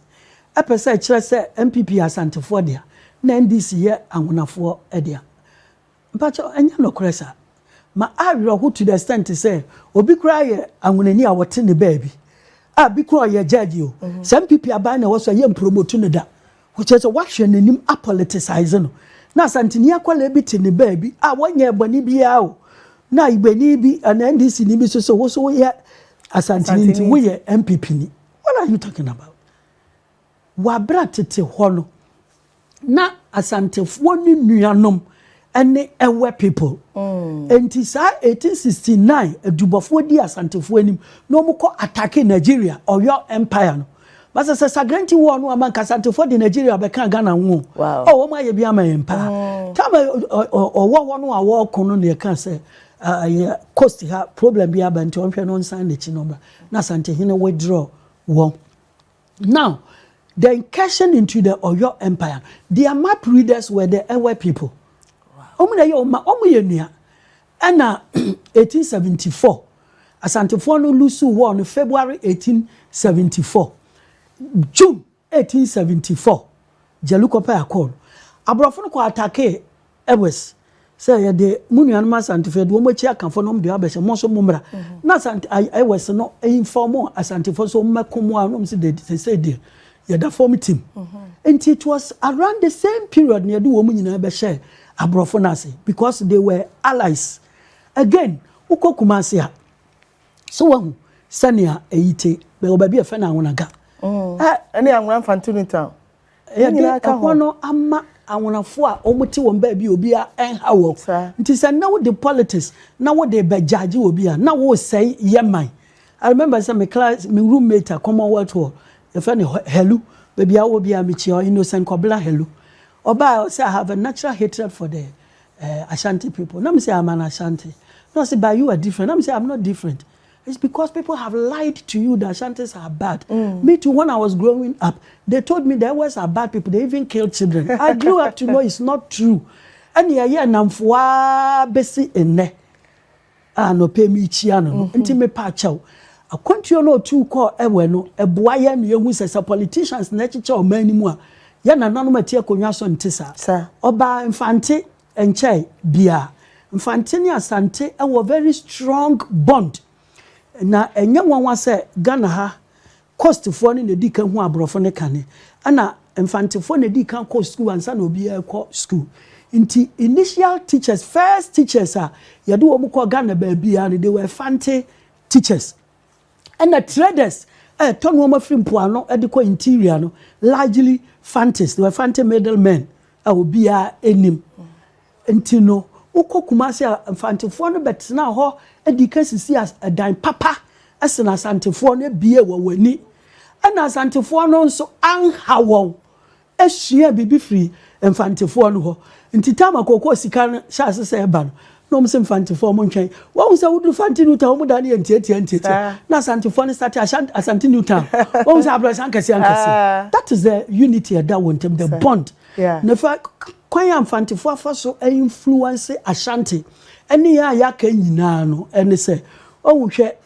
pɛ sɛ ɛkyerɛ sɛ NPP yɛ Asantefoɔ dea na NDC yɛ Anhonafoɔ dea. Mpakyɛw, ɛnyɛ nokorɛ saa. Ma awerɛho to the extent sɛ obi koraa yɛ Anhonani a wɔte ne baabi a bi koraa ɔyɛ Judge o, sɛ NPP aban na ɛwɔ so a yɛnpromotu no da. Kyerɛ sɛ w'ahwɛ n'anim a politicize no. Na Asanteni akwadaa bi te ne baabi a wɔnyɛɛ bɔne biara o. Na Igbeni bi anaa NDC ni bi nso sɛ wo nso woyɛ Asanteni nti woyɛ NPP ni. What are you talking about? Wɔ abere a tete hɔ no na Asantefoɔ ne nuanom ɛne Ewe people. Enti saa 1869 adubɔfoɔ di Asantefoɔ anim na wɔn kɔ attacke Nigeria, Oyo Empire no. Masa sɛ Sagrenti war no ama nka Asantefoɔ de Nigeria bɛka Ghana ho o. Wow. Oh, wɔn ayɛ bi ama yɛn paa. Tam a ɔwɔ hɔ no a wɔreko no na yɛka sɛ ɛyɛ coast ha problem bi aba nti ɔnhwɛ no nsan n'akyi no mmra na Asantehene withdraw wɔn. Now the incursion into the Oyo Empire no, their map readers were the Ewe people. Wɔn na ɛyɛ ɔma, wɔn yɛ nua. Ɛna 1874, Asantefoɔ no lusu war no February 1874, June 1874, Jelukopa Accord. Aborɔfo no kɔ atakee Ɛwes sɛ yɛde mo nuanom Asantefo, yɛde wɔn akyi akafo nom de abɛhyɛ mo nso mommra na Asante ai ɛwes no mfa mo Asantefo nso mmɛko mo a nom se de sesei deɛ yɛda fam tim. Nti it was around the same period na yɛde wɔn nyinaa bɛhyɛɛ aborɔfo no ase because they were allies. Again, wokɔ Kumasi a, so wahu sɛnea ɛyi te, bɛwɔ baabi a yɛfrɛ no Anwonaga. Ɛne Anwona Mfantini Town. Yɛde ɛhɔ no ama anwonafoɔ a wɔte wɔn baabi a obiara nha wɔn. Nti sɛ nnɛ wode politics na wode rebɛgyagye obi a, na woresɛe yɛ man. I remember sɛ me class, me roommate a Commonwealth wɔ, yɛfrɛ no Helu. Baabi a ɔwɔ biara mekyia ɔ Innocent Kɔbena Helu. Ɔbaa a ɔsɛ I have a natural hatred for the uh, Ashanti people. Na me sɛ I'm an Ashanti. Na ɔsɛ but you are different. Na me sɛ I'm not different. It's because people have lied to you that Ashantis are bad. Mm. Me too, when I was growing up, they told me the Ewes are bad people. They even kill children. I grew up to know it's not true. And yeah, yeah, namfua besi ene. Ah, no pay me chia no. Mm-hmm. Nti me pa chow. Akwantuo no otu kɔ ɛwɛ no ɛboa yɛ no yɛhu sɛ sɛ politicians na ɛkyekyɛ ɔman no mu a yɛ nananom ati akonnwa so nte saa ɔbaa mfante Ɛnkyɛe biara, Mfante ne Asante wɔ very strong bond. Na ɛnyɛ nwanwa sɛ Ghana ha Coastfoɔ no na ɛdi kan hu aborɔfo no kane. Ɛna Mfantefoɔ na ɛdi kan kɔ sukuu ansa na obiara rekɔ sukuu. Nti initial teachers, first teachers a yɛde wɔn kɔɔ Ghana baabiara no, they were Fante teachers. Ɛna traders ɛtɔ nnoɔma firi mpoano de kɔ interior no largely fantes, they were fante middle men a obiara anim. Nti no wokɔ Kumasi a mfantefoɔ no bɛtena hɔ adi ka sisi ɛdan papa ɛsena asantefoɔ no abie wɔ wani. Ɛna asantefoɔ no nso anha wɔn suaa biribi firii Mfantefoɔ no hɔ. Nti time a kookoo sika no hyɛɛ ase sɛ ɛba no, na wɔn se Mfantefoɔ mo ntwɛn. Wahu sɛ woduru Fante New Town a, wɔn dan no yɛ ntiatia ntiatia. Na Asantefoɔ no starte Ashan Asante New Town. Wahu sɛ abrɔsan kɛseɛ ankɛseɛ. That is the unity a ɛda wɔn ntam, the bond. Na fa kwan a Mfantefoɔ afa so a influence Ashanti ne yɛn a yɛaka nyinaa no, ɛne sɛ, wahu, hwɛ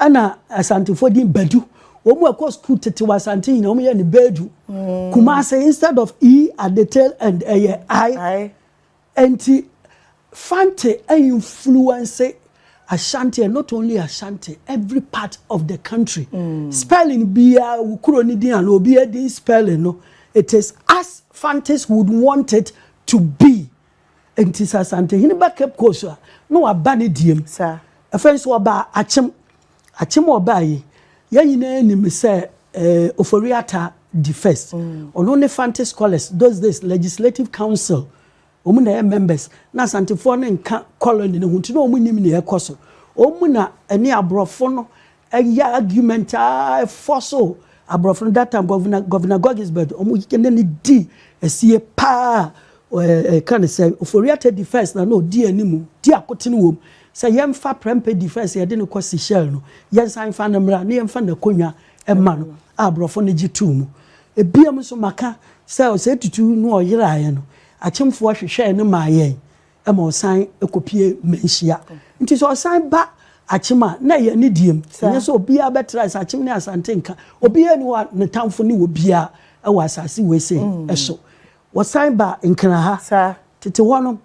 Ɛna Asantefoɔ din Badu. Wɔn a ɛkɔ sukuu tete wɔ Asante nyinaa wɔn yɛ no Bedu. Kumase instead of E at the tail end ɛyɛ I. Nti Fante influence Ashanti and not only Ashanti every part of the country. Spelling biara wo kuro ne din anaa obiara din spelling no it is as Fantes would want it to be. Enti sɛ Asantehene ba Cape Coast a, na waba ne deɛm. Afei nso ɔbaa Akyem. Akyem a ɔbaa yi, yɛn nyinaa nim sɛ eh, Ofori Atta di first. Ɔno ne Fante Scholars, those days Legislative Council, wɔn na ɛyɛ members. Na Asantefoɔ no nka colony no ho nti na wɔn nnim nea ɛkɔ so. Wɔn mu na ɛne aborɔfo no Ɛyɛ argument a ɛfɔ so. Aborɔfo no that time Governor Governor Gogisbert ɔmo ne no di asie paa a ɛka ne sɛ Ofori-Atta defence na na odi anim di akotene wom sɛ yɛmfa Prempeh defence yɛde no kɔ Seychelles no yɛnsan mfa no mmra na yɛmfa n'akonwa mma no a aborɔfo no gye too mu. Ebiam nso maka sɛ Osei Tutu no ɔyeraeɛ no Akyemfoɔ hwehwɛɛ no maa yɛn ma ɔsan kɔpue mmanhyia. Nti sɛ ɔsan ba Akyem a, na ɛyɛ ne deɛm. Ɛnyɛ sɛ obiara bɛtra sɛ Akyem ne Asante nka. Obiara ni hɔ a ne tamfo ne obiara wɔ asase wei sei mm. so. Wɔsan ba Nkran ha. Tete hɔ no,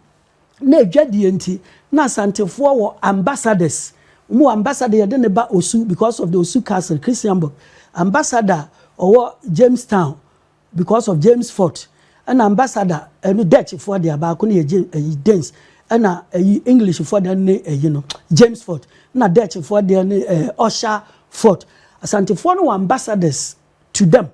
na adwadie nti, na Asantefoɔ wɔ ambassadors. Wɔn wɔ ambassador yɛde ne ba Osu because of the Osu Castle, Christianburg. Ambassador ɔwɔ Jamestown. Because of James Fort ɛna ambassador ɛno Dutch foɔ deɛ baako no yɛ James ɛyi Danes ɛna ɛyi English foɔ deɛ ne ɛyi no James Fort ɛna Dutch foɔ deɛ ne ɛɛ Usher Fort Asante foɔ no wɔ ambassadors to them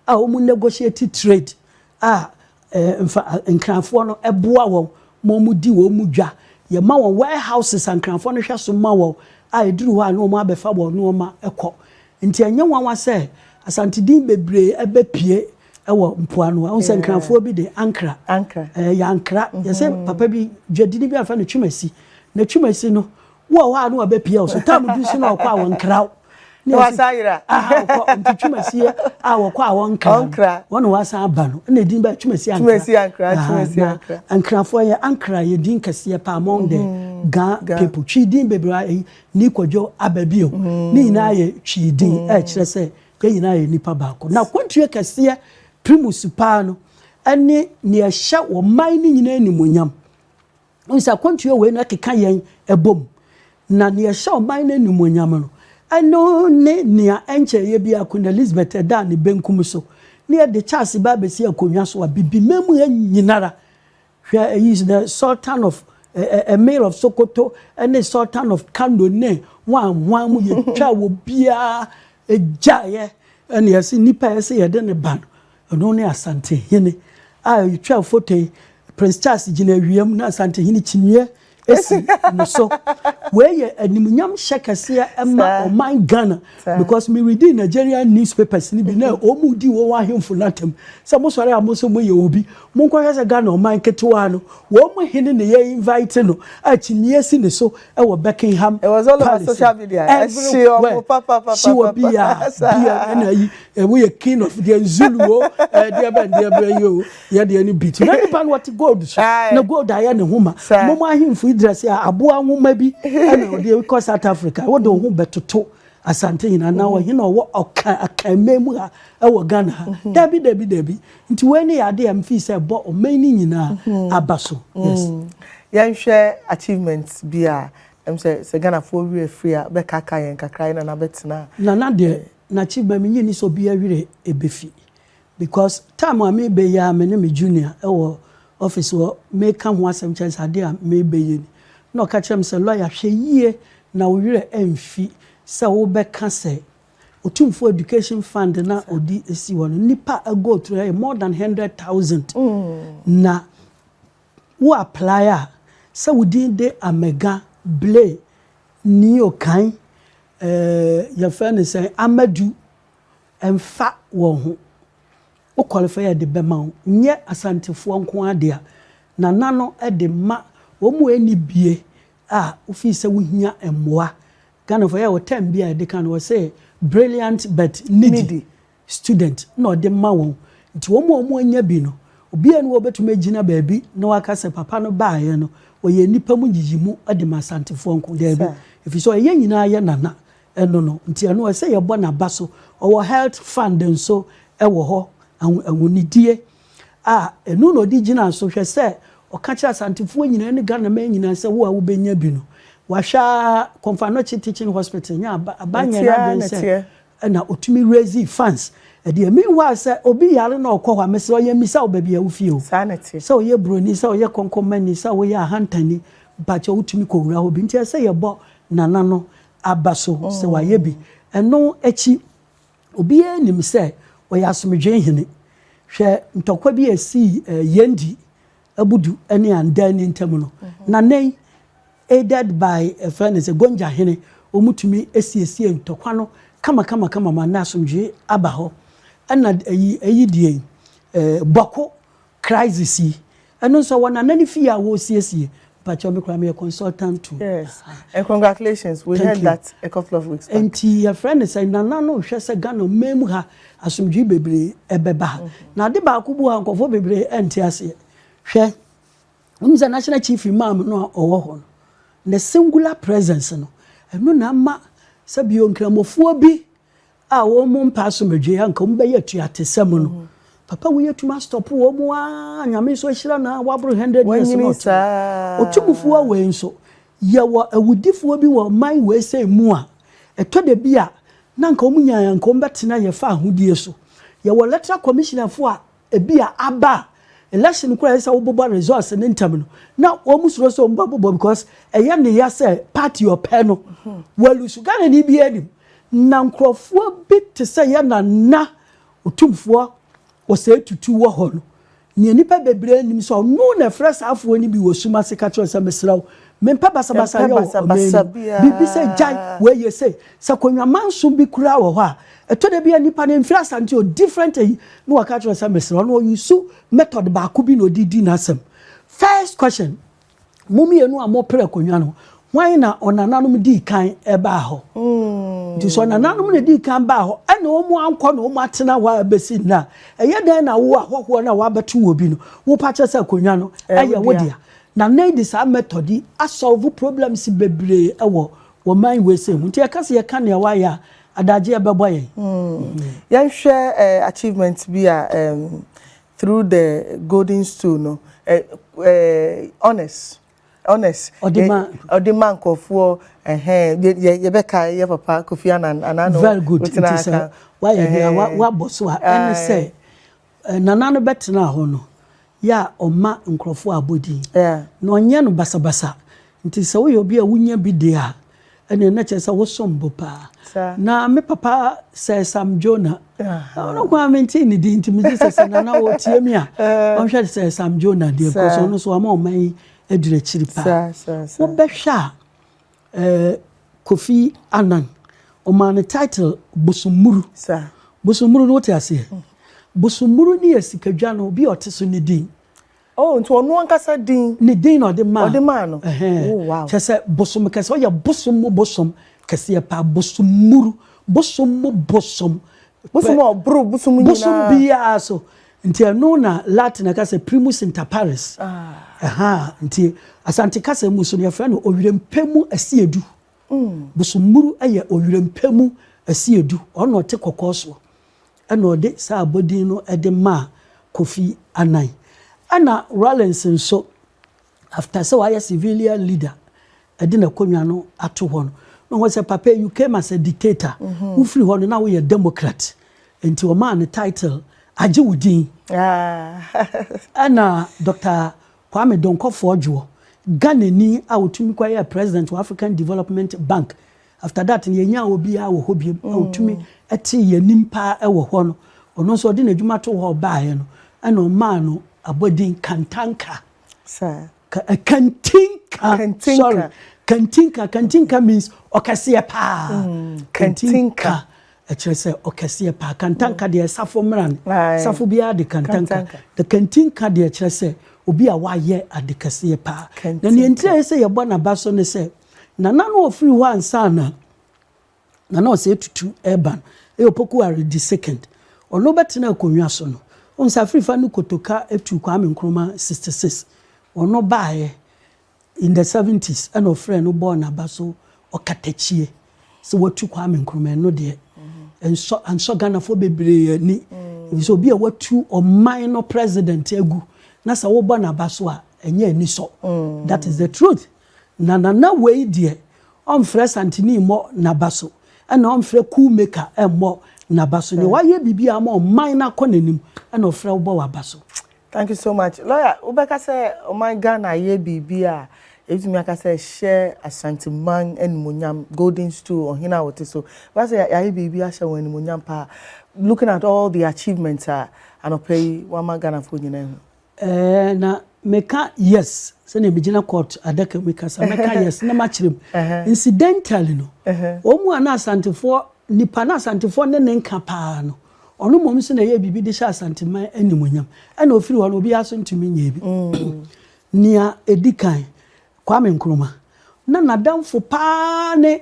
a wɔn negotiate trade a ɛɛ nfa Nkran foɔ no ɛboa wɔn ma wɔn di wɔn dwa yɛ ma wɔn warehouses a Nkran foɔ no hwɛ so ma wɔn a ɛduru hɔ a na wɔn abɛfa wɔn nnoɔma ɛkɔ Nti ɛnyɛ nwanwa sɛ Asante din bebree abɛpue wɔ mpoano. Woahu sɛ Nkranfoɔ bi de, Ankra. Ɛɛ, yɛ Ankra. Yɛ sɛ papa bi, dwadini bi a wɔfrɛ no Twumasi. Na Twumasi no, wowɔ hɔ a na wabɛpue wo so. Tam bi nso na wɔkɔ a wɔnkra wo. Na woasan yera. Aha, wokɔ. Nti Twumasi a wɔkɔ a wɔnkra no, wɔne wo asan aba no, ɛna edin baa Twumasi Ankra. Twumasi Ankra, Twumasi Ankra. Na Nkranfoɔ, yɛ Ankra, yɛ din kɛseɛ paa among the Ga people. Twi din bebree a, eyi, ne kwadwo aba bio. Ne nyinaa yɛ Twi din a ɛkyerɛ sɛ yɛn nyinaa yɛ nnipa baako. Na kwantua kɛseɛ, primus paa no, ne nea ɛhyɛ ɔman no nyinaa animuonyam. Wohu sɛ akwantua wei no ɛkeka yɛn ɛbom. Na nea ɛhyɛ ɔman no animuonyam no, ɛno ne nea ɛnkyɛeɛ biara Queen Elizabeth ɛdaa ne benkum so, ne ɛde Charles ba abɛsi akonnwa so a Bibimam ha nyinara Hwɛ eyi, The Sultan of Emir of Sokoto ne Sultan of Kano ne ho a ho a mu yɛ twa wɔ biara gyaeɛ ɛna yɛse nipa a yɛse yɛde ne ba no ɛno ne Asantehene a yɛtwa foto yi Prince Charles gyina awia mu na Asantehene kyiniiɛ si no so wei yɛ animuonyam hyɛ kɛseɛ ma ɔman Ghana because me reading Nigerian newspapers no bi na wɔn mu di wɔn ahemfo no atam sɛ mo sɔre a mo nso mo yɛ obi mo nkɔhwɛ sɛ Ghana ɔman ketewa no wɔn mo hene na yɛ invite no a kyimie si ne so ɛwɔ Buckingham Palace everywhere si wɔ bia bia ɛna yi ɛwɔ yɛ king of deɛ Zulu o ɛdeɛ bɛn deɛ bɛn yi o yɛ deɛ no bi ti na nipa no ɔte gold so na gold ayɛ ne ho ma mom ahemfo idrasi a aboa nwoma bi ɛna ɔde kɔ south africa wode wo ho bɛtoto asante nyinaa na ɔhe na ɔwɔ ɔka akanma mu ha ɛwɔ ghana ha mhm. dabi dabi dabi nti wei ne yɛade a mfii sɛ ɛbɔ ɔman no nyinaa mhm. aba so mhm. yes yɛnhwɛ achievement bi a ɛm sɛ sɛ ghanafoɔ werɛ firi a bɛkaka yɛn kakra yɛ nana bɛtena nana deɛ eh. n'achievement menye ni sɛ obi awerɛ ɛbɛfi Because time a me bɛ yi a me ne me junior wɔ office hɔ me ka ho asɛm kyerɛ no sɛ adeɛ a me bɛ yɛ ni na ɔka kyerɛ me sɛ lawyer hwɛ yie na wo werɛ anfi sɛ wo bɛ ka sɛ Otumfoɔ education fund no a ɔde si hɔ no nnipa a go through ɛyɛ more than hundred thousand na wo apply a sɛ wo din de Amega Blay Nio Kan eh yɛfrɛ no sɛn Amadu Ɛmfa wɔn ho. Wo qualify a yɛde bɛma wo nyɛ Asantefoɔ nko ara dea. Nana no de ma wɔn a ɛnni bie a wofii sɛ wohia mmoa. Ghanafoɔ yɛ wɔ term bi a yɛde ka no wɔ se brilliant but needy student na ɔde ma wɔn. Nti wɔn a wɔanya bi no obiara nni hɔ a ɔbɛtumi agyina baabi na waka sɛ papa no baeɛ no ɔyɛ nnipa mu nyiyimu de ma Asantefoɔ nko. Daabi. Ɛfiri sɛ ɔyɛ yɛn nyinaa yɛ Nana Ɛno no nti ɛno ɛsɛ yɛbɔ naba so. Ɔwɔ health fund nso wɔ hɔ, ahonidie a ɛno na ɔde gyina so hwɛ sɛ ɔka kyerɛ Asantefoɔ nyinaa ne Ghanaman nyinaa sɛ wo a wobɛnya bi no wahwɛ ara Komfanoche Teaching Hospital nyɛ aba aba nyɛ n'adwene sɛ ɛna ɔtumi raise funds ɛdeɛ meanwhile sɛ obi yare na ɔkɔ hɔ a mesrɛ yɛn mmisa wo baabi a wofie o sɛ ɔyɛ buroni sɛ ɔyɛ kɔnkɔnmani sɛ woyɛ ahantani mpakyɛ wotumi kɔwura hɔ bi nti ɛsɛ yɛbɔ Nana no aba so sɛ wayɛ bi. Ɛno akyi, obiara nim sɛ ɔyɛ asomdwoe hene. Hwɛ ntɔkwa bi a esii Yendi Abudu ne Andani ntam no. Na nnɛ yi, aided by ɛfrɛ no sɛ Gonja hene, wɔtumi siesie ntɔkwa no kamakamakama ma nnɛ asomdwoe aba hɔ. Ɛna eyi deɛ yi, Bɔko. Crisis yi ɛno nso ɔwɔ Nana ne fie a wɔresiesie mpakyɛw me koraa meyɛ consultant to Yes and congratulations we heard that a couple of weeks back. Nti yɛfrɛ no sɛ Nana no hwɛ sɛ Ghana ɔman mu ha asomdwee bebree ɛbɛba ha na ade baako bu ha nkorɔfoɔ bebree ɛnte aseɛ hwɛ wonim sɛ National Chief Imam no a ɔwɔ hɔ no ne singular presence no ɛno na ama sɛbi o nkramofoɔ bi a wɔn mu mpɛ asomdwee a nka wɔn bɛyɛ atuatesɛm no papa wei atumi astɔpo wɔn mu aa nyame nso ahyira no a waboro hundred years Wanyini no ɔte saa. ɔtumfoɔ wei nso yɛwɔ awudifoɔ bi wɔ ɔman wei sɛ mu a ɛtɔ da bi a na nka wɔn nyaa nka wɔn bɛtena yɛfa ahodie so yɛwɔ electoral commissionerfoɔ a Ebia aba a election koraa ɛsɛ sɛ wobobɔ results no ntɛm no na wɔn suro sɛ wɔn bɛbobɔ because ɛyɛ ne ya sɛ party ɔpɛ no mhm. wɔlusu Ghana ni bi anim na nkurɔfoɔ bi te sɛ yɛ na na otumfoɔ ɔsɛ tutu wɔ hɔ no nea nipa bebree nim sɛ ɔno na ɛfrɛ saafoɔ no bi wɔ sum ase ka kyerɛ sɛ mesrɛ wo Mempɛ basabasa yɛ wɔ ɔman no mu. Biribi sɛ gyae wei yɛ sei. Sɛ Konwa manso bi koraa wɔ hɔ a, ɛtɔ da bi a nipa no mfiri Asante o, different ayi, na waka akyerɛ no sɛ mesrɛ wo, na ɔ use method baako bi na ɔde di n'asɛm. First question, mo mmienu a moperɛ Konwa no, hwan na ɔnananom dii kan baa hɔ? Nti sɛ ɔnananom na dii kan baa hɔ, ɛna wɔn ankɔ na wɔn atena hɔ a bɛsi nnɛ a, ɛyɛ dɛn na wo ahɔhoɔ no a wɔabɛto wɔ bi no, wopa kyɛ sɛ Konwa no yɛ wo dea? Na nnɛ yi de saa method yi a solve problems bebree wɔ wɔ man wei sei ho. Nti yɛka sɛ yɛka nea wayɛ a, adaagye ɛbɛboa yɛn. Yɛnhwɛ achievement bi a through the golden stool no honors honors ɔde ma nkurɔfoɔ ɛhɛn yɛbɛkae yɛ papa Kofi Annan anaa no. Very good, nti sɛ wayɛ bi a wabɔ so a ɛne sɛ Nana no bɛtenaa hɔ no yɛ a ɔma nkurɔfoɔ abɔdin na ɔnyɛ no basabasa nti sɛ woyɛ obi a wonya bi deɛ a ɛneɛ na kyerɛ sɛ wosom bo paa na me papa Sir Sam Jonah ɔno nko ara mentee ne din nti megye sɛ sɛ Nana ɔtie me a ɔnhwɛ Sir Sam Jonah deɛ kɔ so ɔno so ama ɔman yi agyina akyiri paa wobɛhwɛ a Eh, Kofi Annan, ɔmaa no title Bosommuru. Saa. Bosommuru no wote aseɛ? Mm. Bosommuru ne yɛ sikadwa no obi a ɔte so ne din. Oh, nti ɔno ankasa din. Ne din na ɔde maa. Ɔde maa no. Ɛhɛn. Oh, wow. Kyɛ sɛ bosom kɛse, ɔyɛ bosom mu bosom kɛseɛ paa, Bosommuru. Bosom mu bosom Bosom a ɔboro bosom nyinaa. Bosom biara so. Nti ɛno na Latin ɛka sɛ primus inter pares. Ɛha ah. nti Asante kasa mu so no yɛfrɛ no owirempɛ mu asiedu. Mm. Bosommuru yɛ owirempɛ mu asiedu. Ɔno ɔte kɔkɔɔ soɔ. Ɛna ɔde saa abɔdin no de maa Kofi Annan. Ɛna Rawlings nso After sɛ wayɛ civilian leader ɛde n'akonwa no ato hɔ no na ɔhu sɛ papa you came as a dictator wo firi hɔ no na woyɛ democrat nti ɔmaa no title agye wo din ɛna Doctor Kwame Donkɔfo Odwoɔ Ghanani a ɔtumi kɔ yɛ president wɔ African Development Bank after that no yɛnyaa obiara wɔ hɔ biom a ɔtumi te yɛnim paa ɛwɔ hɔ no ɔno nso ɔde n'adwuma to hɔ ɔbaeɛ no ɛna ɔmaa no abɔdin Kantanka. Saa. Kantinka. Kantinka. Sorry. Kantinka. Kantinka means ɔkɛseɛ paa. Mm. Kantinka. ɛkyerɛ sɛ ɔkɛseɛ paa kantanka mm. deɛ safo mmra no safo biara de kantanka na kantinka deɛ ɛkyerɛ sɛ obi a wayɛ ade kɛseɛ paa na neɛ ntirɛ sɛ yɛbɔ n'aba so ne sɛ nana no ɔfiri hɔ ansa na Nana Osei Tutu reba no, ɛyɛ Opoku Aredi Second. Ɔno bɛtenaa akonnwa so no, wohu sɛ Afirifa no kotoka tuu Kwame Nkrumah sixty six. Ɔno baeɛ in the seventies ɛna ɔfrɛɛ no bɔɔ n'aba so ɔkatakyie sɛ watu Kwame Nkrumah. Ɛno deɛ ɛnsɔ ansɔ Ghanafoɔ bebree ani. Efisɛ obi a watu ɔman no president agu na sɛ wobɔ n'aba so a ɛnyɛ anisɔ. That is the truth. Na na na wei deɛ ɔmfrɛ santini mmɔ naba so ɛna ɔmfrɛ cool maker mmɔ naba so nea wayɛ biribi a ama ɔman no akɔ nanim ɛna ɔfrɛ wobɔ waba so. Thank you so much. Lawyer, wobɛka sɛ ɔman Ghana yɛ biribi a yɛbɛtumi aka sɛ ɛhyɛ Ashanti man animuonyam, golden stool, ɔhene a wɔte so. Wobɛka sɛ yɛayɛ biribi ahyɛ wɔn animuonyam paa looking at all the achievements a anɔpa yi wɔama Ghanafoɔ nyinaa ahu. Ɛɛ na meka yes sɛnea megyina court adaka mu kasa mɛka yes na makyerɛ mu incidentally no wɔn mu a na asantefoɔ nipa na asantefoɔ ne ne nka paa no ɔno mmom nso na ɛyɛ biribi de hyɛ asanteman animonyam ɛna ofiri hɔ no obiara so ntumi nyɛ bi mm. nea edi kan Kwame Nkrumah na n'adamfo paa ne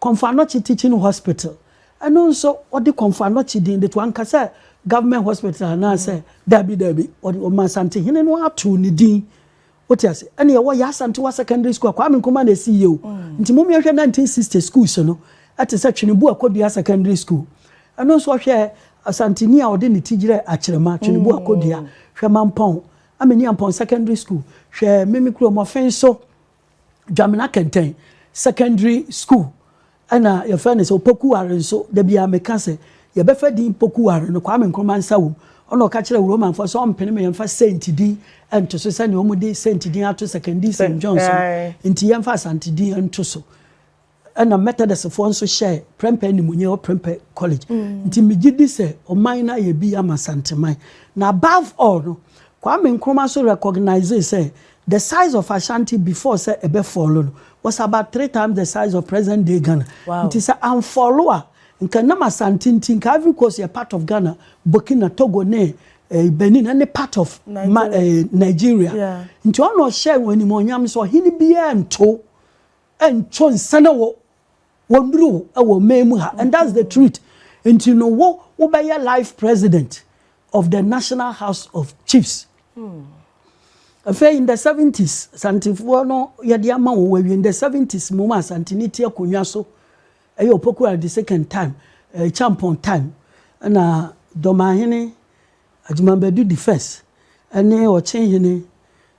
Komfo Anokye Teaching Hospital, ɛno nso wɔde Komfo Anokye din de to, anka sɛ Government Hospital anaasɛ daabi daabi, wɔde, wɔma Asantehene no ara too ne din. Wote ase? Ɛne ɛwɔ Yaa Asantewaa Secondary School a, Kwame Nkrumah na ɛsiiɛ o. Nti mommia nhwɛ 1960 schools no, ɛte sɛ Tweneboa Kodua Secondary School, ɛno nso ɔhwɛ Asanteni a ɔde ne ti gyerɛ Akyerema, Tweneboa Kodua, hwɛ Mampɔn, Ameni Ampɔn Secondary School, hwɛ Mimi Kurom, Ɔfenso, Dwamena Kɛntɛn Secondary School ɛna yɛfrɛ no sɛ Opoku Ware nso da biara meka sɛ yɛbɛfa din Poku Ware no Kwame Nkrumah nsa wom ɔna ɔka kyerɛ Wuromanfoɔ sɛ ɔmpene me yɛmfa Saint din nto so sɛnea wɔn de Saint din ato Sekondi Saint Johnson nti yɛmfa Asante din nto so Ɛna Metɔdistfoɔ nso hyɛɛ prɛmpɛ animuonyam wɔ Prempeh College. Nti megye di sɛ ɔman no ayɛ bi ama Asanteman. Na above all no, Kwame Nkrumah nso recognisee sɛ the size of Ashanti before sɛ ɛbɛ fallo no was about three times the size of present day Ghana. Nti sɛ anfallo a, nka ɛnam Asante nti nka Ivory Coast yɛ part of Ghana, Burkina, Togo ne Benin ɛne part of Nigeria. Nti ɔna ɔhyɛɛ wɔn animuonyam sɛ ɔhene biara nto. Nto nsa na wo wɔ nuru wɔ man mu ha and that's the truth nti no wo wo bɛ yɛ life president of the national house of chiefs. Hmm. afei in the 70s asantefoɔ no yɛde ama wɔn awie in the 70s mu ma asanteni ti akonnwa so ɛyɛ opokuo the second time ɛɛ eh, champon time ɛna dɔmahene agyimabadu the first ɛne ɔkyenhene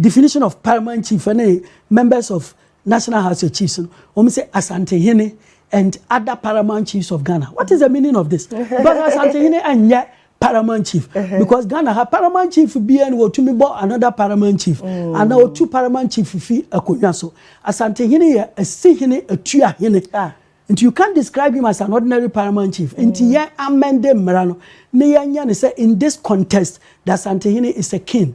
Definition of Paramount Chief ne Members of National House of Chiefs no, wɔn sɛ Asantehene and other paramount chiefs of Ghana. What is the meaning of this? Because Asantehene nyɛ paramount chief. Uh-huh. Because Ghana ha paramount chief biara na wɔtumi bɔ another paramount chief. Mm. Ana wɔtu paramount chief fi akonnwa so. Asantehene yɛ asihene, atuahene. Ah. Nti you can't describe him as an ordinary paramount chief. Mm. Nti yɛn amende mmara no, ne yɛnyɛ ne sɛ in this context, the Asantehene is a king.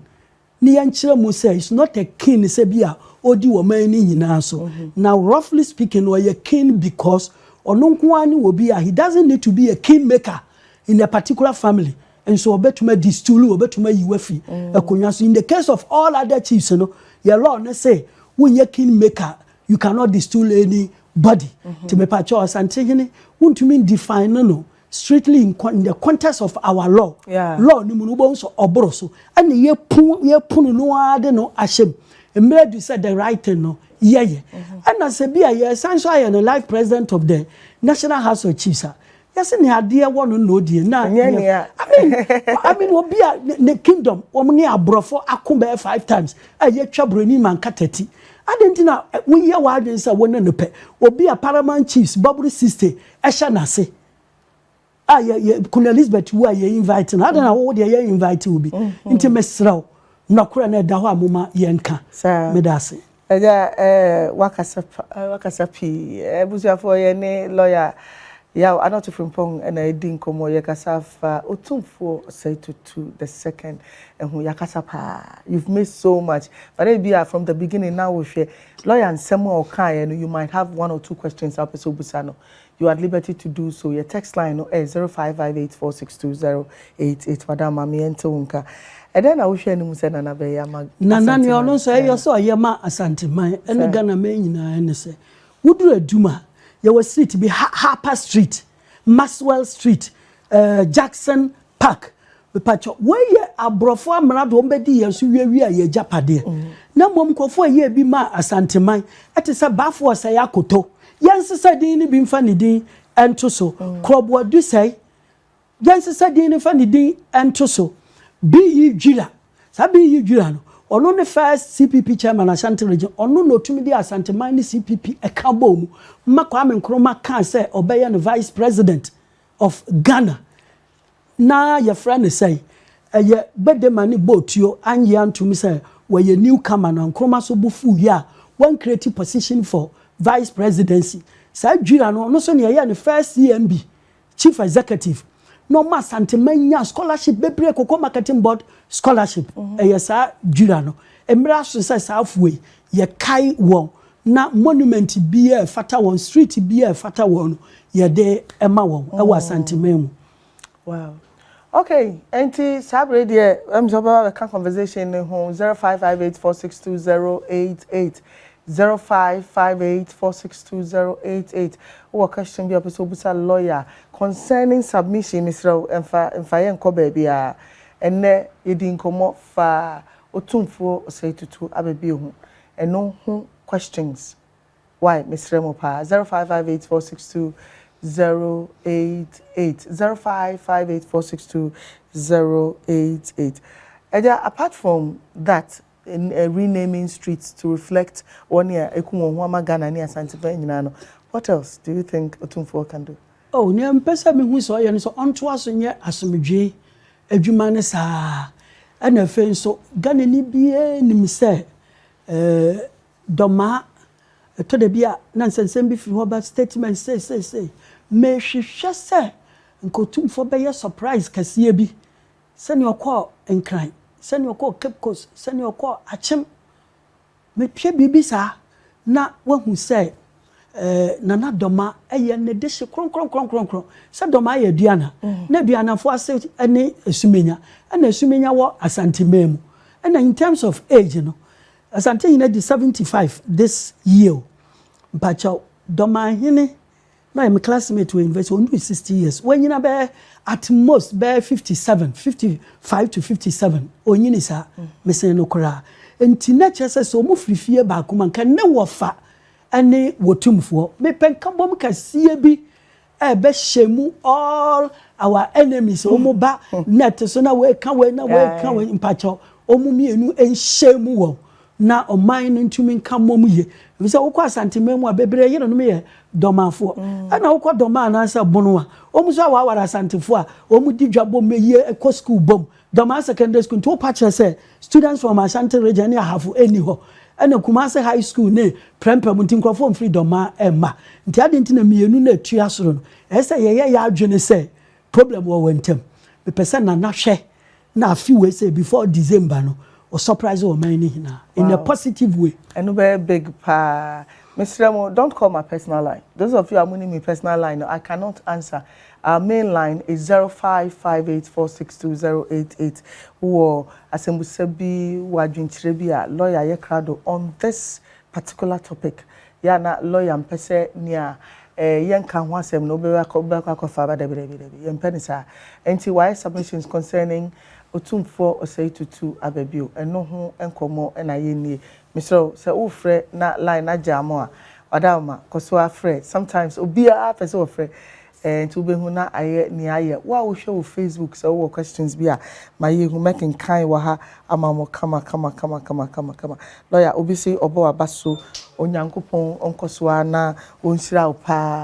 Ne yɛnkyerɛ mu sɛ he's not a king sɛ bi a ɔdi wɔ man no nyinaa so. Na roughly speaking no ɔyɛ king because ɔno nko ara ne obi a he doesn't need to be a king maker in a particular family nso ɔbɛtumi adi stool ɔbɛtumi ayi wafiri akonnwa so. In the case of all other chiefs no yɛ law ne se wonyɛ king maker you cannot distool anybody. Nti mepakyɛ ɔsankyehene wontumi ndefine no strictly in con in the context of our law Yeah. law no mu no wobɛhu sɛ ɔboro so ɛne yɛpu yɛpunu no ara de no ahyɛ mu mmerɛ du sɛ the right thing no yɛyɛ ɛna sɛ bi a yɛsan so ayɛ no life president of the national house of chiefs a yɛse ne adeɛ wɔ no na ɔdie na Ɛnyɛ ne- nea- I mean, I mean obi a ne, ne kingdom wɔn ne aborɔfo ako bɛyɛ five times a yɛtwa buroni ma nka tati adɛn nti na eh, woyɛ w'adwene sɛ wo ne no pɛ obi a paramount chiefs bɔboro sixty Ɛhyɛ n'ase a yɛ yɛ Queen Elizabeth wu a yɛ invite no adan na wo deɛ yɛ invite wo bi nti mesrɛ wo nɔkorɛ no ɛda hɔ a moma yɛnka meda ase. Agya ɛɛ wakasa pa ɛɛ wakasa pii abusuafoɔ yɛ ne lɔya yaw anɔto frimpong ɛna edi nkɔmɔ yɛ kasa fa otumfoɔ ɔsɛe tutu the second ɛho yakasa paa you've missed so much but ebi a from the beginning na wo hwɛ Lawyer nsɛm a ɔkaeɛ no you might have one or two questions a wopɛ sɛ wobisa no, you're at liberty to do so. Yɛ text line no ɛyɛ zero five five eight four six two zero eight eight. Madam ma me yɛnte wo nka. Ɛdɛn na wohwɛ anim sɛ Nana bɛyɛ ama Asante man? Nana nea ɔno nso ɛyɛ sɛ ɔyɛ ma Asante man ne Ghana man nyinaa ne sɛ, woduru Adum a, yɛwɔ street bi, Ha Harper Street. Maxwell Street, eh, Jackson Park. Mepakyɛw, wei yɛ aborɔfo amena do, wɔbɛdii yɛn so wiawiaa yɛn agyapadeɛ. Na mmom nkurɔfo a ɛyɛɛ bi maa Asanteman, ɛte sɛ Bafo Ɔsɛe Akoto, yɛnsesa din no bi mfa ne din nto so, Korɔboa Dusɛe, yɛnsesa din no mfa ne din nto so, Biyi Dwira. Saa bere yi dwira no, ɔno ne first CPP chairman Ashanti region, ɔno na otumi de Asanteman ne CPP ɛka bɔɔ mu ma Kwame Nkrumah kaa sɛ ɔbɛyɛ no vice president of Ghana. Na yɛfrɛ no sɛn? Ɛyɛ Gbedema ne Bootuo, annye antom sɛ wɔyɛ new comer no, Nkrumah nso bo fuui a wan create position for vice presidency. Saa dwira no, ɔno nso nea ɛyɛɛ no first CMB Chief Executive na ɔma Asanteman nya scholarship bebree Cocoa Marketing Board scholarship ɛyɛ saa dwira no mmerɛ aso sɛ saa afoɔ yi yɛkae wɔn na monument biara a ɛfata wɔn street biara a ɛfata wɔn no yɛde ma wɔn ɛwɔ Asanteman mu. Wow. Okay, ɛnti saa bere yi deɛ ɛyɛ me sɛ wobɛba bɛka conversation no ho 0558462088, 0558462088, wowɔ question bi a wopɛ sɛ wobusa lawyer concerning submission, mesrɛ wo ɛmfa ɛmfa yɛn nkɔ baabiara. Ɛnnɛ yɛdii nkɔmmɔ faa Otumfuo Osei Tutu Ababie ho, ɛno ho questions Wai mesrɛ mo paa zero five five eight four six two zero eight eight zero five five eight four six two zero eight eight Agya apart from that eh, renaming streets to reflect wɔn a eku wɔn ho ama Ghana ne Asantefan nyinaa no what else do you think Otumfoɔ can do? Oh, nea mpɛ sɛ mehu sɛ ɔyɛ no sɛ ɔntoa so nyɛ asomdwee adwuma no saa ara. Ɛna afei nso, Ghanani biara nim sɛ eh, Dɔmaa, Ɛtɔ da bi a na nsɛnsɛm bi firi hɔ ba, statement sei sei sei. Mehwehwɛ sɛ nka Otumfoɔ bɛyɛ surprise kɛseɛ bi, sɛdeɛ ɔkɔɔ Nkran, sɛdeɛ ɔkɔɔ Cape Coast, sɛdeɛ ɔkɔɔ Akyem. Mehwɛ biribi saa na wahu sɛ Nana Dɔma yɛ ne dehye kronkronkronkron. Sɛ Dɔmaa yɛ Aduana, na Aduanafoɔ ase ne Asumenya, ɛna Asumenya wɔ Asanteman mu. Ɛna in terms of age no, Asantehene adi seventy five this year o mpakyɛw Dɔmanhene na ɔyɛ me classmate wɔ university ɔnduru sixty years wanyina bɛyɛ at most bɛyɛ fifty seven fifty five to fifty seven ɔnyini saa mesen no koraa nti na kyerɛ sɛ sɛ ɔmo firi fie baako mu a nka ne wɔfa ɛne wɔtumfoɔ mepɛ nkabom kɛseɛ bi ɛbɛhyɛ mu all our enemies wɔn ba net so na wɔka wei na wɔka wei mpakyɛw wɔn mmienu nhyɛ mu wɔ na ɔman no ntumi nka mmom yie ebi sɛ wokɔ asanteman mu a bebree yere no yɛ dɔmafoɔ mm. ɛna wokɔ dɔma anaasɛ bono a wɔn nso awaware asantefoɔ a wɔn di dwa bom yie kɔ sukuu bom Dɔmaa Secondary School nti wo pa kyerɛ sɛ students from Ashanti region ne Ahafo nni hɔ ɛna Kumasi High School ne Prempeh mu nti nkurɔfoɔ mfiri Dɔmaa ɛmma nti adɛn nti na mmienu no ɛtua soro no ɛyɛ sɛ yɛyɛ yɛ adwene sɛ problem wɔ wɔn ntam mepɛ sɛ Nana hwɛ na afe wei sɛ before December no O surprise ɔman no nyinaa in a positive way. Ɛno bɛyɛ big paa. Mesrɛ mo don't call my personal line. Those of you a monim me personal line no, I cannot answer. Our main line is zero five five eight four six two zero eight eight. Wowɔ asɛmbusa bi, wowɔ adwenkyerɛ bi a, lɔya yɛ krado on this particular topic yɛ a na lawyer mpɛ sɛ nea eh, yɛnka ho asɛm no wobɛkɔ akɔfa aba dabi dabi dabi yɛmpɛ ne saa nti wayɛ submissions concerning otumfoɔ ɔsɛe tutu aba bio ɛno ho nkɔmmɔ na yɛnnie mesrɛ wo sɛ wofrɛ na line agya mo a ɔda wo ma kɔ so afrɛ sometimes obiara pɛ sɛ wɔfrɛ Eh nti wobɛhu na ayɛ nea ayɛ. Wo a wohwɛ wɔ Facebook sɛ wowɔ questions bi a ma yɛhu mɛkenkan wɔ ha ama mo kama kama kama kama kama kama. Lawyer obi se ɔbɔ waba so Onyankopɔn ɔnkɔ so ara na ɔnhyira wo paa.